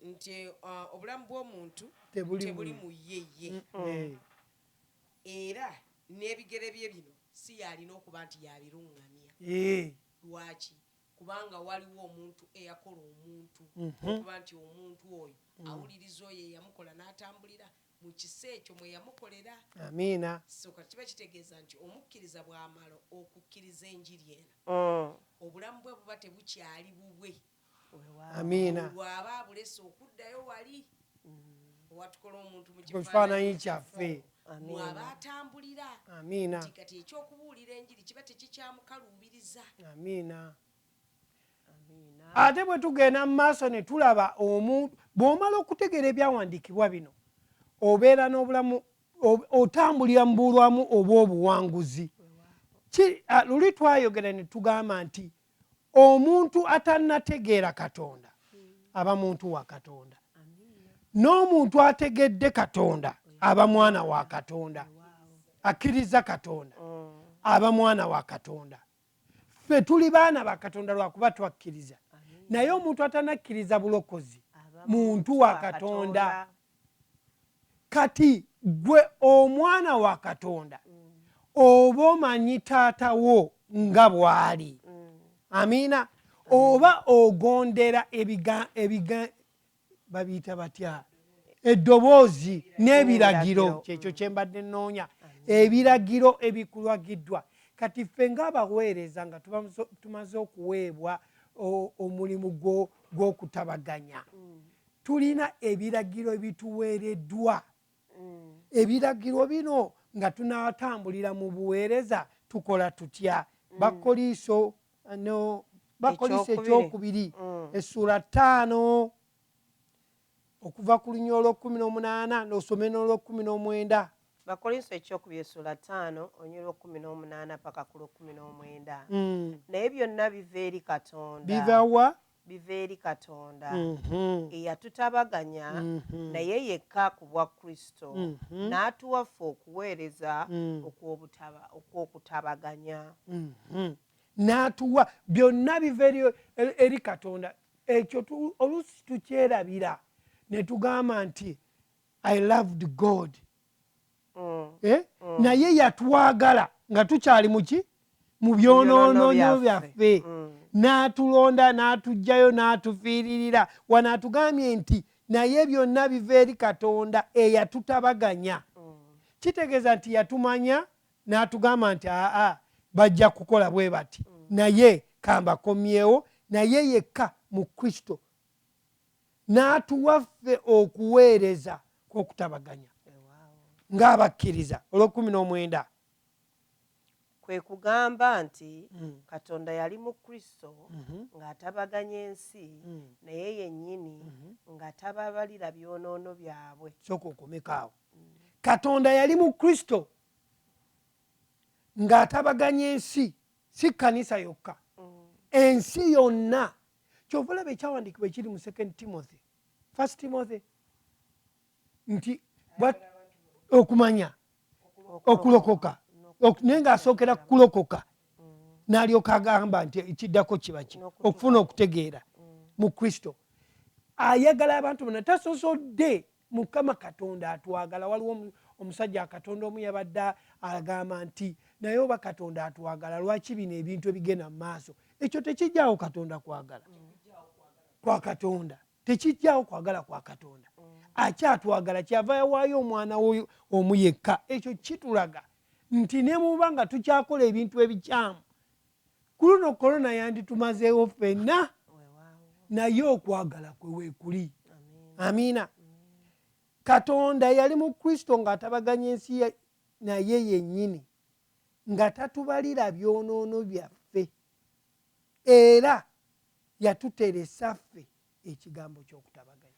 Speaker 3: nti
Speaker 2: obulamu bw'omuntu tebuli mu ye ye, era n'ebigere bye bino si y'alina okuba nti y'abiruŋŋamya. Lwaki? Kubanga waliwo omuntu eyakola omuntu, okuba nti omuntu oyo awuliriza oyo eyamukola n'atambulira mu kisa ekyo mwe yamukolera. Amiina.
Speaker 1: So kati kiba
Speaker 2: kitegeeza nti omukkiriza bw'amala okukkiriza enjiri eno, obulamu bwe buba tebukyali bubwe amiina
Speaker 1: bwaba abulese
Speaker 2: okuddayo wali watukola omuntu mu kifaananyi kyaffe
Speaker 1: mwaba
Speaker 2: atambulira amiina nti kati
Speaker 1: ekyokubuulira
Speaker 2: enjiri kiba tekikyamukaluubiriza amiina
Speaker 1: ate bwe tugenda mu maaso ne tulaba omuntu bw'omala okutegeera ebyawandiikibwa bino obeera n'obulamu otambulira mu bulwamu obw'obuwanguzi luli twayogera ne tugamba nti omuntu atanategeera katonda aba muntu wa katonda n'omuntu ategedde katonda aba mwana wa katonda akkiriza katonda aba mwana wa katonda ffe tuli baana ba katonda lwakuba twakkiriza naye omuntu atanakkiriza bulokozi muntu wa katonda kati gwe omwana wa katonda oba omanyi taata wo nga bwali amiina oba ogondera babiyita batya eddoboozi n'ebiragiro kyekyo kyembadde nnoonya ebiragiro ebikulagiddwa kati ffe ngaabaweereza nga tumaze okuweebwa omulimu gwokutabaganya mm. tulina ebiragiro ebituweereddwa mm. ebiragiro bino nga tunatambulira mu buweereza tukola tutya mm. bakoliiso no bakoliiso ekyokubiri mm. essuula ttaano okuva ku lunya olwokumi n'omunaana nosome n'olwokumi n'omwenda bakolinso
Speaker 3: ekyokubiri essuula ttaano olunya olwokumi n'omunaana paka ku lwokumi n'omwenda mm. naye byonna biva eri katonda bivawa
Speaker 1: biva eri
Speaker 3: Katonda, eyatutabaganya naye yekka ku bwa Kristo, n'atuwa ffe okuweereza okw'okutabaganya.
Speaker 1: N'atuwa. Byonna biva eri Katonda. Ekyo oluusi tukyerabira ne tugamba nti, I loved God. eh? naye yatwagala nga tukyali muki mu byonoononyo byaffe n'atulonda n'atugjayo n'atufiiririra wano atugambye nti naye byonna biva eri katonda eyatutabaganya kitegeeza nti yatumanya n'atugamba nti aa bajja kukola bwe bati naye kambakomyewo naye yekka mu kristo n'atuwa ffe okuweereza kw'okutabaganya ng'abakkiriza olw'ekkumi n'omwenda
Speaker 3: kwe kugamba nti mm. katonda yali mu kristo mm -hmm. ng'atabaganya ensi mm. naye yennyini mm -hmm. nga tababalira byonoono byabwe soka okomekaawo
Speaker 1: mm. katonda yali mu kristo ng'atabaganya ensi si kkanisa yokka mm. ensi yonna kyova olaba ekyawandiikibwa ekiri mu second timothy first timothy nti okumanya okulokoka naye ng'asookera kukulokoka mm. n'alyoka agamba nti ekiddako kiba ki okufuna okutegeera mm. mu kristo ayagala abantu bona tasosodde Mukama katonda atwagala waliwo omusajja katonda omu yabadde agamba nti naye oba katonda atwagala lwaki bino ebintu ebigenda mu maaso ekyo tekijjawo katonda kwagala kwa katonda tekijjawo kwagala kwa katonda akyatwagala kyava yawaayo omwana woyo omu yekka ekyo kitulaga nti nemuba nga tukyakole ebintu ebikyamu Ku luno korona yanditumazeewo ffenna, naye okwagala kwe weekuli. Amiina. Katonda yali mu Kristo ng'atabaganya ensi naye yennyini, nga tatubalira byonoono byaffe, era yatuteresa ffe ekigambo ky'okutabaganya.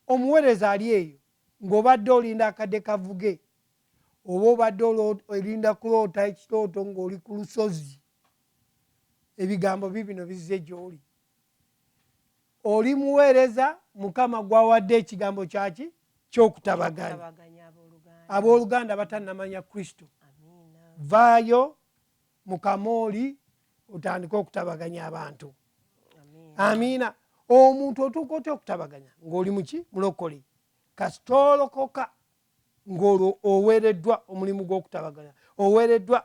Speaker 1: Omuweereza ali eyo, ng'obadde olinda akadde kavuge, oba obadde olinda kuloota ekirooto ng'oli ku lusozi ebigambo bibino bizze gy'oli oli muweereza mukama gwawadde ekigambo kyaki kyokutabaganya abooluganda batannamanya kristo vaayo mukama oli otandike okutabaganya abantu amiina omuntu otuuka otya okutabaganya ngaoli muki mulokole kasita olokoka ng'olwo oweereddwa omulimu gw'okutabaganya, oweereddwa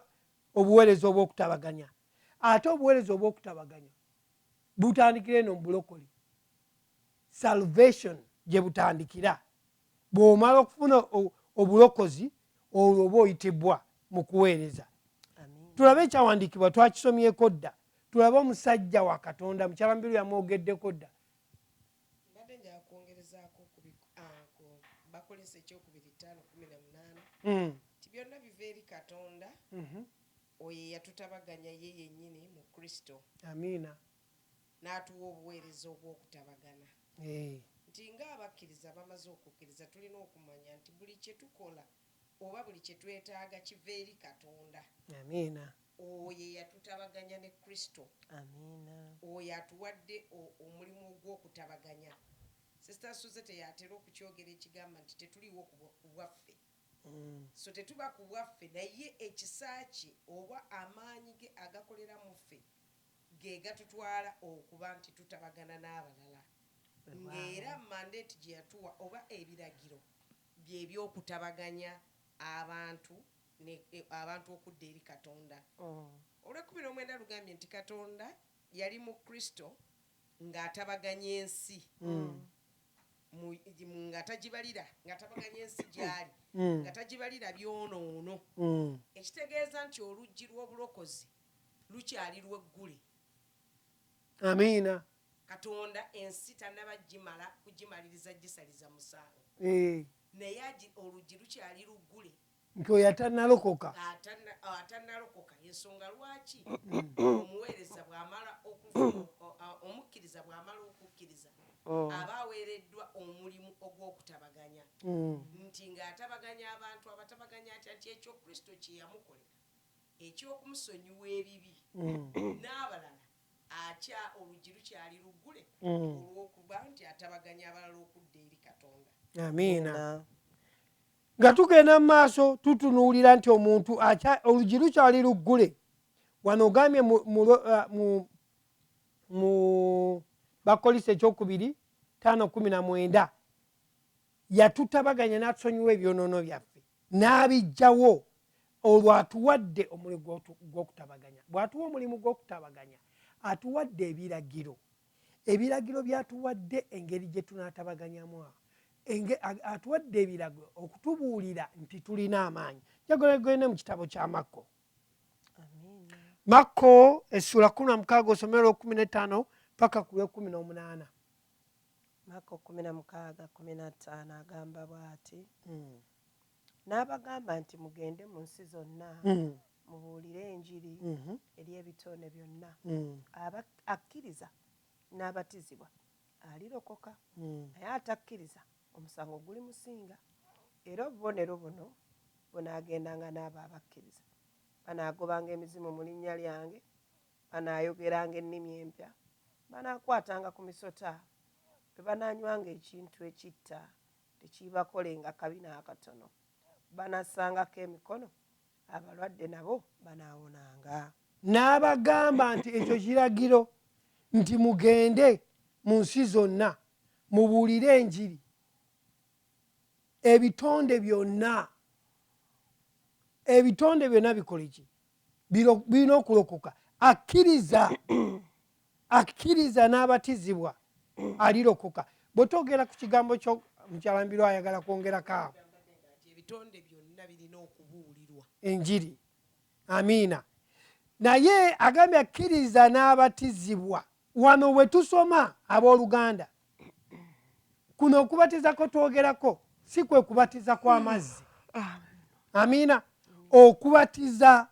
Speaker 1: obuweereza obw'okutabaganya. Ate obuweereza obw'okutabaganya butandikira eno mu bulokoli, salvation gye butandikira. Bw'omala okufuna obulokozi, olwo oba oyitibwa mu kuweereza. Tulabe ekyawandiikibwa, twakisomyeko dda. Tulabe omusajja wa Katonda, mukyala Mubiru yamwogeddeko dda. Mbadde
Speaker 2: njagala kwongerezaako ku bi, ah, ku Bakolinso ekyokubiri ttaano kkumi na munaana Mm. nti byonna biva eri Katonda Mhm. oyo eyatutabaganya ye yennyini mu Kristo Amiina.
Speaker 1: n'atuwa
Speaker 2: obuweereza obw'okutabagana. Eeh. Nti nga abakkiriza abamaze okukkiriza tulina okumanya nti buli kye tukola oba buli kye twetaaga kiva eri Katonda. Amiina.
Speaker 1: Oyo
Speaker 2: eyatutabaganya ne Kristo. Amiina.
Speaker 3: Oyo atuwadde
Speaker 2: o, omulimu ogw'okutabaganya. Sister Suzette y'atera okukyogera ekigamba nti, Tetuliiwo ku bwa, ku bwaffe. So tetuba ku bwaffe, naye ekisa Kye oba amaanyi Ge agakolera mu ffe ge gatutwala okuba nti tutabagana n'abalala. Nga era mandate gye yatuwa oba ebiragiro. bye by'okutabaganya abantu ne abantu okudda eri Katonda. Olw'ekkumi n'omwenda lugambye nti Katonda yali mu Kristo nga atabaganya ensi mu mu nga tagibalira nga atabaganya ensi gy'ali nga tagibalira byonoono, ekitegeeza nti oluggi lw'obulokozi lukyali lweggule.
Speaker 1: Amiina. Katonda
Speaker 2: ensi tanaba jimala kujimaliriza jisaliza musango naye agi oluggi lukyali luggule nti oyo
Speaker 1: atanalokoka atanalokoka
Speaker 2: yensonga lwaki omuweereza bwamala omukkiriza bwamala okukkiriza oh. aba aweereddwa omulimu ogw'okutabaganya mm. nti ng'atabaganya abantu abatabaganya atya nti ekyo kristo kye yamukolera eky'okumusonyiwa ebibi mm. n'abalala Atya oluggi lukyali luggule olw'okuba nti atabaganya abalala okudda eri Katonda. Amiina.
Speaker 1: Nga tugenda mu maaso tutunuulira nti omuntu oluggi lukyali luggule. Wano ogambye mu uh, bakolisa ekyokubiri taano kumi na mwenda Yatutabaganya n'atusonyiwa ebyonoono byaffe n'abiggyawo. Olwo atuwadde omuli gw'okutabaganya. Bw'atuwa omulimu gw'okutabaganya atuwadde ebiragiro. Ebiragiro by'atuwadde engeri gye tunaatabaganyamu awo. Atuwadde ebiragiro okutubuulira nti tulina amaanyi. Njagala gende mu kitabo kya Makko. Makko essula kumi na mukaaga osomero lw'okumi n'ettaano paka ku lw'ekumi n'omunaana.
Speaker 3: Makko kkumi na mukaaga kkumi na ttaano agamba bw'ati, N'abagamba nti, Mugende mu nsi zonna mubuulire Enjiri eri ebitone byonna. Aba akkiriza n'abatizibwa alirokoka, naye atakkiriza omusango gulimusinga. Era obubonero buno bunaagendanga n'abo abakkiriza, Banaagobanga emizimu mu linnya lyange, Banaayogeranga ennimi empya, banaakwatanga ku misota, bwe banaanywanga ekintu ekitta, tekiibakolenga kabi n'akatono. Banassangako emikono, abalwadde nabo banaawonanga. N'abagamba
Speaker 1: nti, Ekyo kiragiro nti mugende mu nsi zonna mubuulire enjiri ebitonde byonna. Ebitonde byonna bikole ki? birina okulokoka akkiriza akkiriza n'abatizibwa alirokoka bwe twogera ku kigambo kyo mukyalambirwa ayagala kwongerako awo ebitonde
Speaker 2: byonna birina okubuulirwa enjiri
Speaker 1: amiina naye agambye akkiriza n'abatizibwa wano we tusoma abooluganda kuno okubatiza kwe twogerako si kwe kubatiza kw'amazzi amiina okubatiza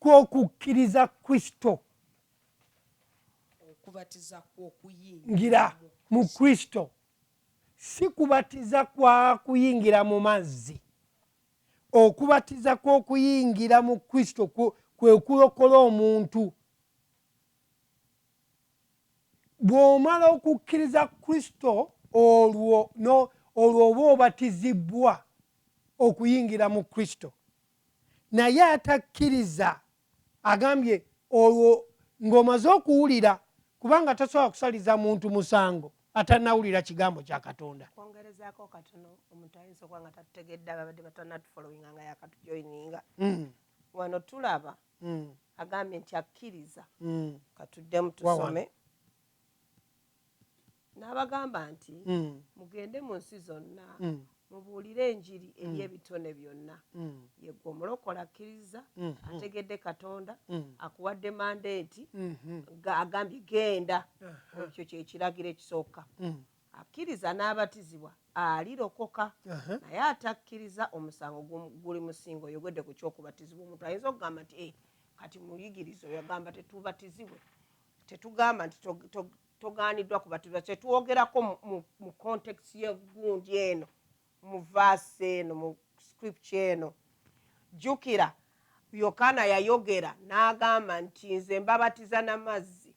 Speaker 1: kw'okukkiriza kristo
Speaker 2: ngira
Speaker 1: mu kristo si kubatiza kwa kuyingira mu mazzi okubatiza kw'okuyingira mu kristo kwe kulokola omuntu bw'omala okukkiriza kristo olwo no, olwo oba obatizibbwa okuyingira mu kristo naye atakkiriza agambye olwo ng'omaze okuwulira kubanga tasobola kusaliza muntu musango atanawulira kigambo kya katonda kwongerezaako katono
Speaker 3: omuntu ayinza okuba nga tatutegedde ababadde batanatufolowinga nga yakatujoyininga mm. wano tulaba mm. agambye nti akkiriza katuddemu tusome n'abagamba nti hmm. mugende mu nsi zonna hmm. mubuulire enjiri hmm. eri ebitone byonna yegwe omulokola akkiriza ategedde katonda akuwadde mandeeti agambye genda ekyo kyekiragiro ekisooka Akkiriza n'abatizibwa alirokoka, naye atakkiriza omusango guli mu si ng'oyogedde ku ky'okubatizibwa. Omuntu ayinza okugamba nti, Ee, kati muyigiriza oyo agamba tetubatizibwe. Tetugamba nti togaaniddwa kubatizibwa. Kye twogerako mu context y'eggundi eno, mu vaasi eno, mu scripture eno. Jjukira, Yokaana yayogera n'agamba nti, Nze mbabatiza na mazzi,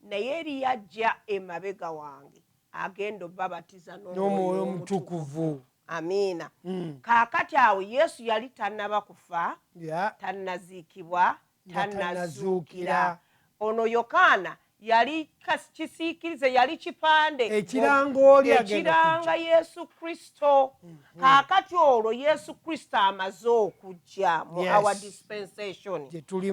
Speaker 3: Naye eriyo ajja emabega wange, agenda obabatiza n'Omwoyo Omutukuvu. Amiina. Kaakati, awo Yesu yali tannaba kufa, tannaziikibwa, tannazuukira. Ono Yokaana yali kisiikirize, yali kipande ekiranga Yesu Kristo. hmm. kaakati olwo yesu kristo amaze okujja mu yes. our dispensation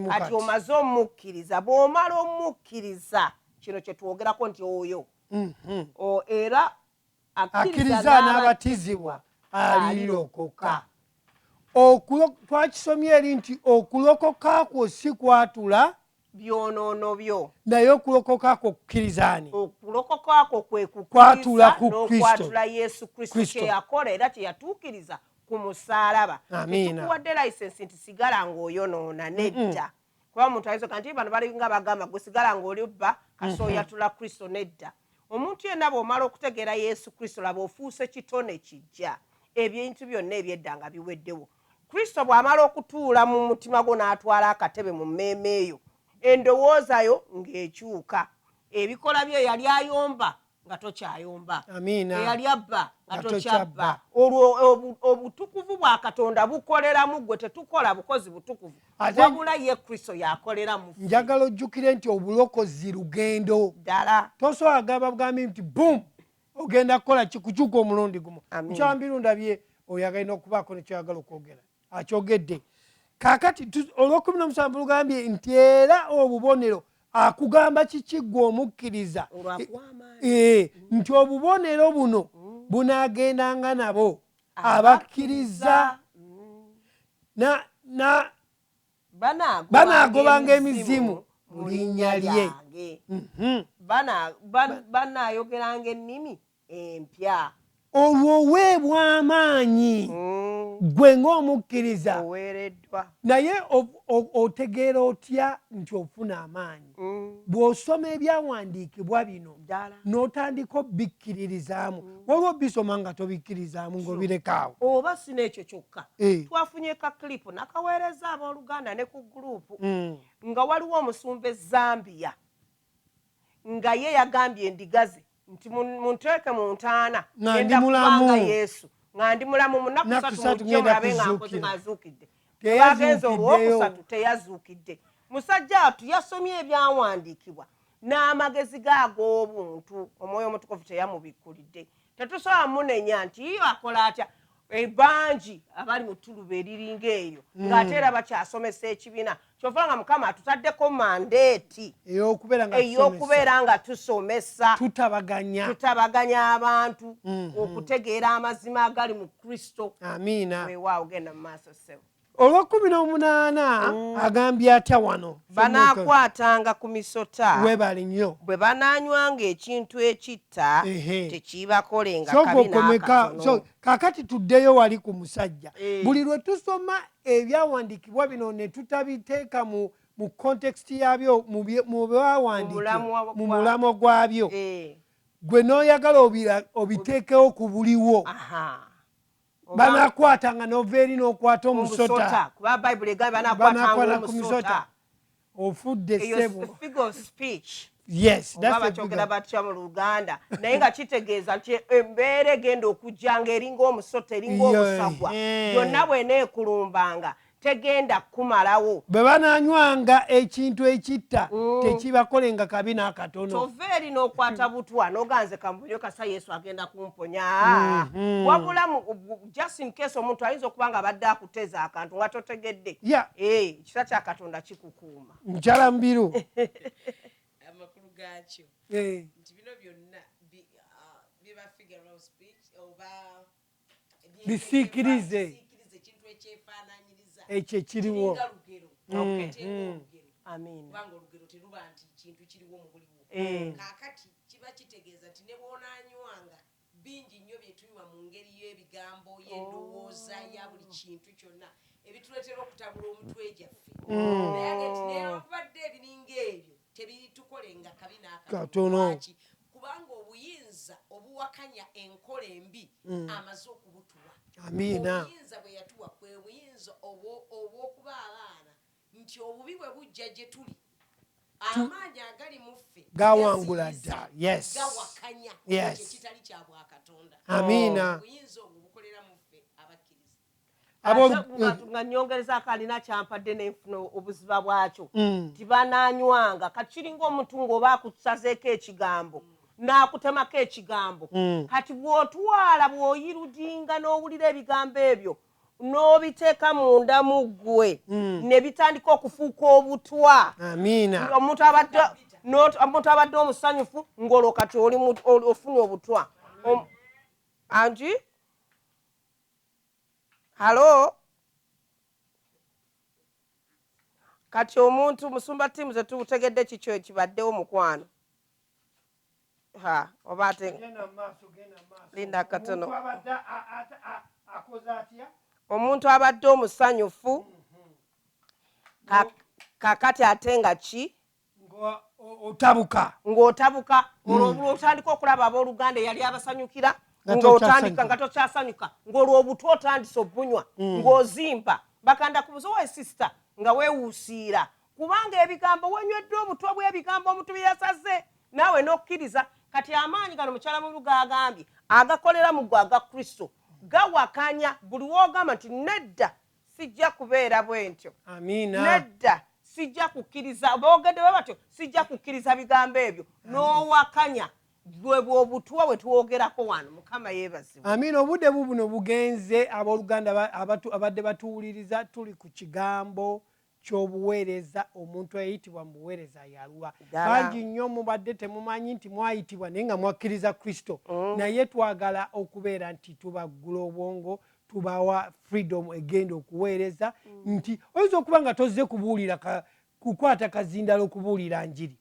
Speaker 3: kati omaze omukkiriza bw'omala omukkiriza kino kye twogerako nti oyo mm -hmm. o, era akkiriza n'abatizibwa alirokoka twakisomye eri nti okulokoka kwo si kwatula byonoono byo naye okulokoka kwo kukkiriza ani okulokoka kwo kwe kukwatula ku kristokwatula yesu kristo kyeyakola era kyeyatuukiriza ku musaalaba ekikuwadde layisensi nti sigala ng'oyonoona nedda kuba omuntu ayinza oga nti bano balinga bagamba gwe sigala ng'oli bba kasi oyatula mhm. kristo nedda omuntu yenna bw'omala okutegeera yesu kristo laba ofuuse kitone kijja ebintu byonna ebyedda nga biweddewo Kristo bw'amala okutuula mu mutima gwo n'atwala akatebe mu mmeeme yo, endowooza yo ng'ekyuka. Ebikola byo eyali ayomba nga tokyayomba, eyali abba nga tokyabba. Olwo obutukuvu bwa Katonda bukolera mu ggwe, tetukola bukozi butukuvu, wabula ye Kristo y'akolera mu ffe. Njagala ojjukire nti obulokozi lugendo. Ddala. Tosobola gamba bugambi nti bum ogenda kukola kikukyuka omulundi gumu mukyambiru ndabye oyo agalina okubaako nekyoyagala okwogera akyogedde kakati olwokumi nomusanvu lugambye nti era obubonero akugamba kikiggwa omukkiriza eh, nti obubonero buno mm. bunagendanga nabo abakkiriza mm. banaagobanga emizimu mu linnya lyange mhm. banaayogeranga ennimi empya olwo oweebwa amaanyi mm. gwe ng'omukkiriza naye otegeera otya nti ofuna amaanyi bw'osoma ebyawandiikibwa bino n'otandika obikkiririzaamu mm. waliwo bisoma nga tobikkiririzaamu ng'obirekaawo oba si n'ekyo kyokka eh. twafunye ka kilipu nakaweereza abooluganda ne ku guruupu mm. nga waliwo omusumba ezambiya nga ye yagambye endiga ze nti munteeke mu ntaana ngenda kubanga yesu nga ndi mulamu mu nnaku satu mujje mulabe nga nkoze nga azuukidde agenze olwokusatu teyazuukidde musajja wattu yasomye ebyawandiikibwa n'amagezi ge ag'obuntu omwoyo omutukuvu teyamubikkulidde tetusobola munenya nti iyo akola atya Eh, bangi abali mu tuluba eriringa eyo hmm. ng'ate era bakyasomesa ekibiina kyova nga mukama atutaddeko mandeeti ey'okubeera nga tusomesa tutabaganya abantu hmm, hmm. okutegeera amazima agali mu kristo amiina weewaawo genda mu maaso ssebo olwekumi n'omunaana mm. agambye atya wano banaakwatanga ku misota webali nnyo bwe banaanywanga ekintu ekitta tekiibakolenga kakati tuddeyo wali ku musajja eh. buli lwe tusoma ebyawandiikibwa bino ne tutabiteeka mu mu context yabyo mu byawandiikibwa mu mulamwa gwabyo eh. gwe n'oyagala obiteekewo ku buliwo
Speaker 1: banakwata nga nova eri nokwata omusota kuba bayibuli egambye
Speaker 3: banakwata ku misota ofudde
Speaker 1: sebo
Speaker 3: yes bakyogera
Speaker 1: batya
Speaker 3: mu luganda naye nga kitegeeza nti embeera egenda okujja nga eringa omusota eringa omusagwa yonna bwena ekulumbanga tegenda kukumalawo. Bwe banaanywanga
Speaker 1: ekintu ekitta, mm. tekibakolenga kabi n'akatono. Kyova eri n'okwata
Speaker 3: butwa n'oga nze kambuyo kasa Yesu agenda kumponya. Mm-hmm. Wabula just in case omuntu ayinza okuba nga abadde akuteza akantu nga totegedde. Eh, ekisa kya Katonda kikukuuma. Mukyala Mubiru.
Speaker 2: Amakulu gaakyo eh. nti bino byonna bisiikirize
Speaker 1: ekyo
Speaker 2: ekiriwo bingi nnyo byetunywa mu ngeri y'ebigambo y'endowooza oh. ya buli kintu kyonna ebituleetera okutabula omutwe gyaffe mm. naye nti newankubadde ebiringa ebyo tebitukolenga kabi n'akatono kubanga obuyinza obuwakanya enkola embi mm. amaze okubutuwa amiina obuyinza bwe yatuwa kwe buyinza obw'okuba abaana nti obubi bwe bujja gye tuli amaanyi agali mu ffe gawangula dda
Speaker 1: gawakanya
Speaker 2: ekitali kya bwakatonda amiina obuyinza obwo bukolera mu ffe abakkiriza nga nyongerezaako alina
Speaker 3: kyampadde nenfuna obuziba bwakyo mm. tibananywanga kati kiringa omuntu ngaoba akusazeeko ekigambo nakutemako ekigambo mm. kati bwotwala bwoyirudinga nowulira ebigambo ebyo nobiteeka munda mu ggwe mm. nebitandika okufuuka obutwa omuntu abadde omusanyufu ngolwo kati ofuna obutwa anti halo kati omuntu musumba tiimu zetutegedde kikyo ekibaddewo mukwano ha oba ate linda katono omuntu abadde omusanyufu kakati ate nga ki otabuka ng'otabuka hmm. olwo obula otandika okulaba abooluganda eyali abasanyukira ng'otandika nga tokyasanyuka ng'olwo obutu otandise obunywa hmm. ng'ozimba bakanda ku buzowa esisita nga weewuusiira kubanga ebigambo wenywedde obutwa bw'ebigambo omuntu bye yasaze naawe n'okkiriza kati amaanyi gano mukyala mulu gaagambye agakolera mu gwe aga kristo gawakanya buli woogamba nti nedda sijja kubeera bwentyo nedda sijja kukkiriza boogedde bwe batyo sijja kukkiriza bigambo ebyo n'owakanya gwe bwobutwa bwe twogerako wano mukama yeebazibwe amiina obudde bu buno
Speaker 1: bugenze abooluganda abadde batuwuliriza tuli ku kigambo kyobuwereza omuntu eyayitibwa mubuwereza yaluwa bangi nyo mubadde temumanyi nti mwayitibwa naye nga mwakiriza kristo mm. naye twagala okubeera nti tubaggula obwongo tubawa freedom egenda okuweereza mm. nti oyinza okuba nga tozze kubuulira kukwata kazindalo okubuulira njiri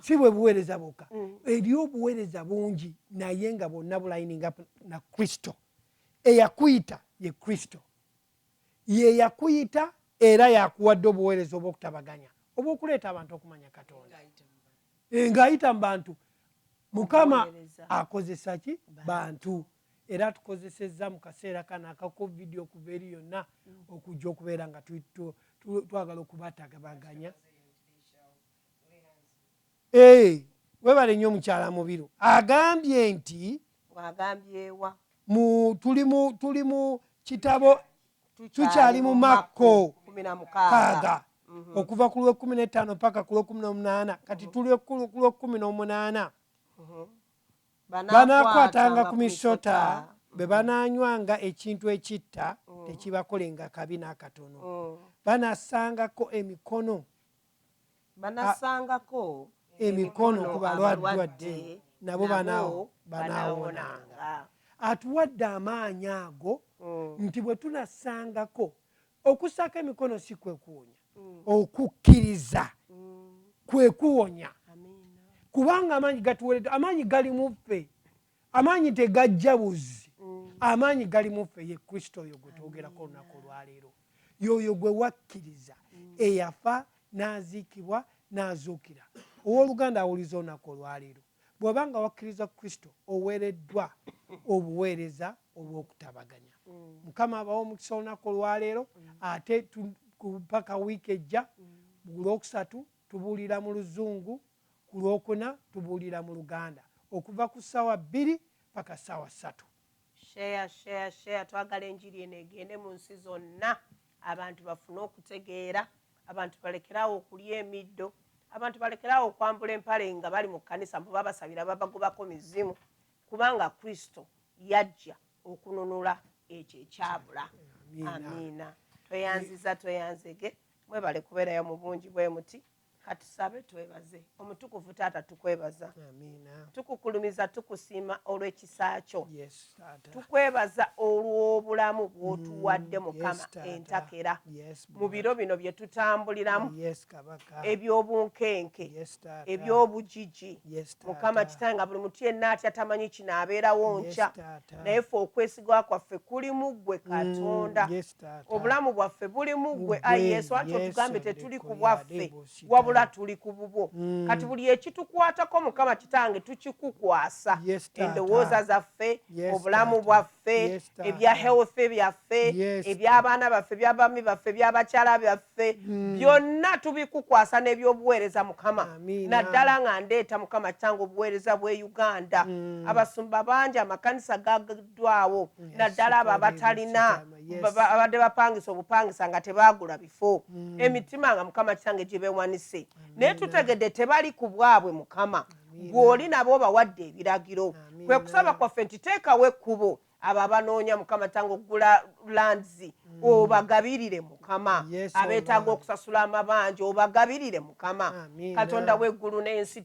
Speaker 1: si bwe buweereza bwokka mm. eri obuweereza bungi naye nga bonna bulayininga na kristo eyakuyita ye kristo ye yakuyita era yakuwadde obuweereza obw'okutabaganya obw'okuleeta abantu okumanya katonda eh, ng'ayita mu bantu mukama akozesa ki bantu era atukozesezza mu kaseera kano aka covid okuva eri yonna mm. okujja okubeera nga twagala okubatabaganya Hey, webale nnyo mukyala mubiru agambye nti agambyewa mu tuli mu tuli mu kitabo tukyali mu makko kaaga mhm. okuva ku lwekumi netaano paka ku lwekumi nomunaana kati mhm. tuli ku lwekumi nomunaana mhm. banakwatanga ku misota bwe bananywanga ekintu ekitta tekibakolenga kabi nakatono banasangako emikono banasangako emikono ku balwadde nabo banaawonanga. Atuwadde amaanyi ago mm. nti bwe tunasangako okusaako emikono si kwe kuwonya mm. okukkiriza mm. kwe kuwonya kubanga amaanyi gatuweredde amaanyi gali mu ffe Amaanyi tegajja buzzi, amaanyi gali mu ffe, ye Kristo oyo gwe twogerako olunaku olwaleero. Y'oyo gwe wakkiriza, eyafa n'aziikibwa n'azuukira. Ow'oluganda awuliza olunaku olwaleero? Bw'oba nga wakkiriza Kristo, oweereddwa obuweereza obw'okutabaganya. Mukama abawe omukisa olunaku olwaleero, ate mpaka wiiki ejja, ku Lwokusatu tubuulira mu Luzungu. Ku Lwokuna tubuulira mu Luganda okuva ku ssaawa bbiri paka ssaawa ssatu. Share, share,
Speaker 3: share. Twagala enjiri eno egende mu nsi zonna abantu bafune okutegeera, abantu balekere awo okulya emiddo, abantu balekere awo okwambula empale nga bali mu kkanisa mbu babasabira babagobako mizimu kubanga Kristo yajja okununula ekyo ekyabula. Amiina. Amiina. Tweyanziza tweyanzege. Mwebale kubeerayo mu bungi bwe muti. Katusabe twebaze omutukuvu taata tukwebaza tukukulumiza tukusiima olwekisa kyo tukwebaza olwobulamu bwotuwadde mm, mukama entakera mu biro bino byetutambuliramu ebyobunkenke ebyobujiji mukama kitae nga buli mutu yenna atya tamanyi kino abeerawo nkya naye fe okwesigwa kwaffe kuli muggwe mm, katonda Obulamu bwaffe buli mu ggwe, ayi Yesu, anti otugambye tetuli ku bwaffe, wabula tuli ku bubwo. Mm. Kati buli ekitukwatako, Mukama Kitange, tukikukwasa. Endowooza zaffe, obulamu bwaffe, ebya health byaffe, eby'abaana baffe, eby'abaami baffe, eby'abakyala byaffe, mm. byonna tubikukwasa n'ebyobuweereza, Mukama. Naddala nga ndeeta, Mukama Kitange, obuweereza bw'e Uganda. Mm. Abasumba bangi, amakanisa ekiddwawo naddala abo abatalina abadde bapangisa obupangisa nga tebaagula bifo hmm. emitima nga mukama kitange gibewanise naye tutegedde tebali ku bwabwe mukama gw'oli nabo obawadde ebiragiro kwe kusaba kwaffe nti teekawo ekkubo abo abanoonya mukama tange okugula lands mm. obagabirire mukama abeetaaga okusasula amabanja obagabirire mukama katonda w'eggulu n'ensi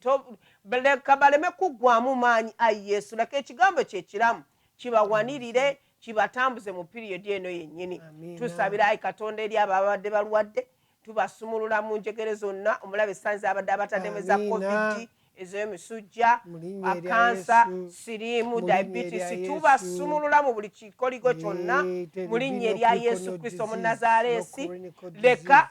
Speaker 3: Leka baleme kuggwaamu maanyi, Ayi Yesu. Leka Ekigambo Kyo ekiramu kibawanirire, kibatambuze mu piriyodi eno yennyini. Tusabira, ayi Katonda, eri abo ababadde balwadde. Tubasumulula mu njegere zonna omulabe sitaani z'abadde abataddemu, eza kovidi, ez'emisujja, akansa, siriimu, dayibitisi. Tubasumulula mu buli kikoligo kyonna mu linnya erya Yesu Kristo Omunnazaaleesi. Leka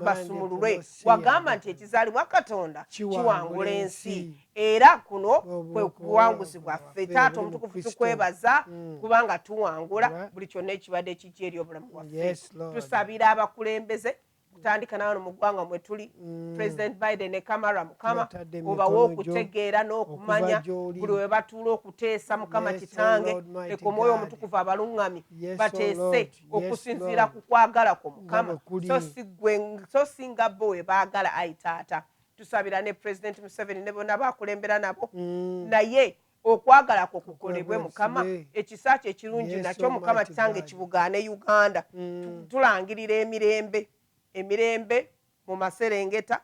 Speaker 3: basumululwe. wagamba nti ekizaalibwa katonda kiwangula ensi era kuno kwe buwanguzi bwaffe taata omutukuvu tukwebaza mm. kubanga tuwangula buli kyonna ekibadde kijja eri obulamu bwaffe tusabira abakulembeze kutandika nawano mu ggwanga mwe tuli mm. president biden ne kamara mukama obawe okutegeera n'okumanya buli we batuula okuteesa mukama kitange leka omwoyo omutukuvu abaluŋŋami bateese okusinziira ku kwagala kwo mukama so si nga bo we baagala ayi taata tusabira ne pulezidenti museveni ne bonna bakulembera nabo mm. naye okwagala kwo kukolebwe mukama ekisa kyo ekirungi nakyo mukama kitange kibugaane uganda mm. tulangirira emirembe emirembe mu maserengeta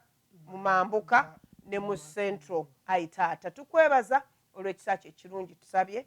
Speaker 3: mu mambuka ne mu central ayi taata tukwebaza olw'ekisa kyo ekirungi tusabye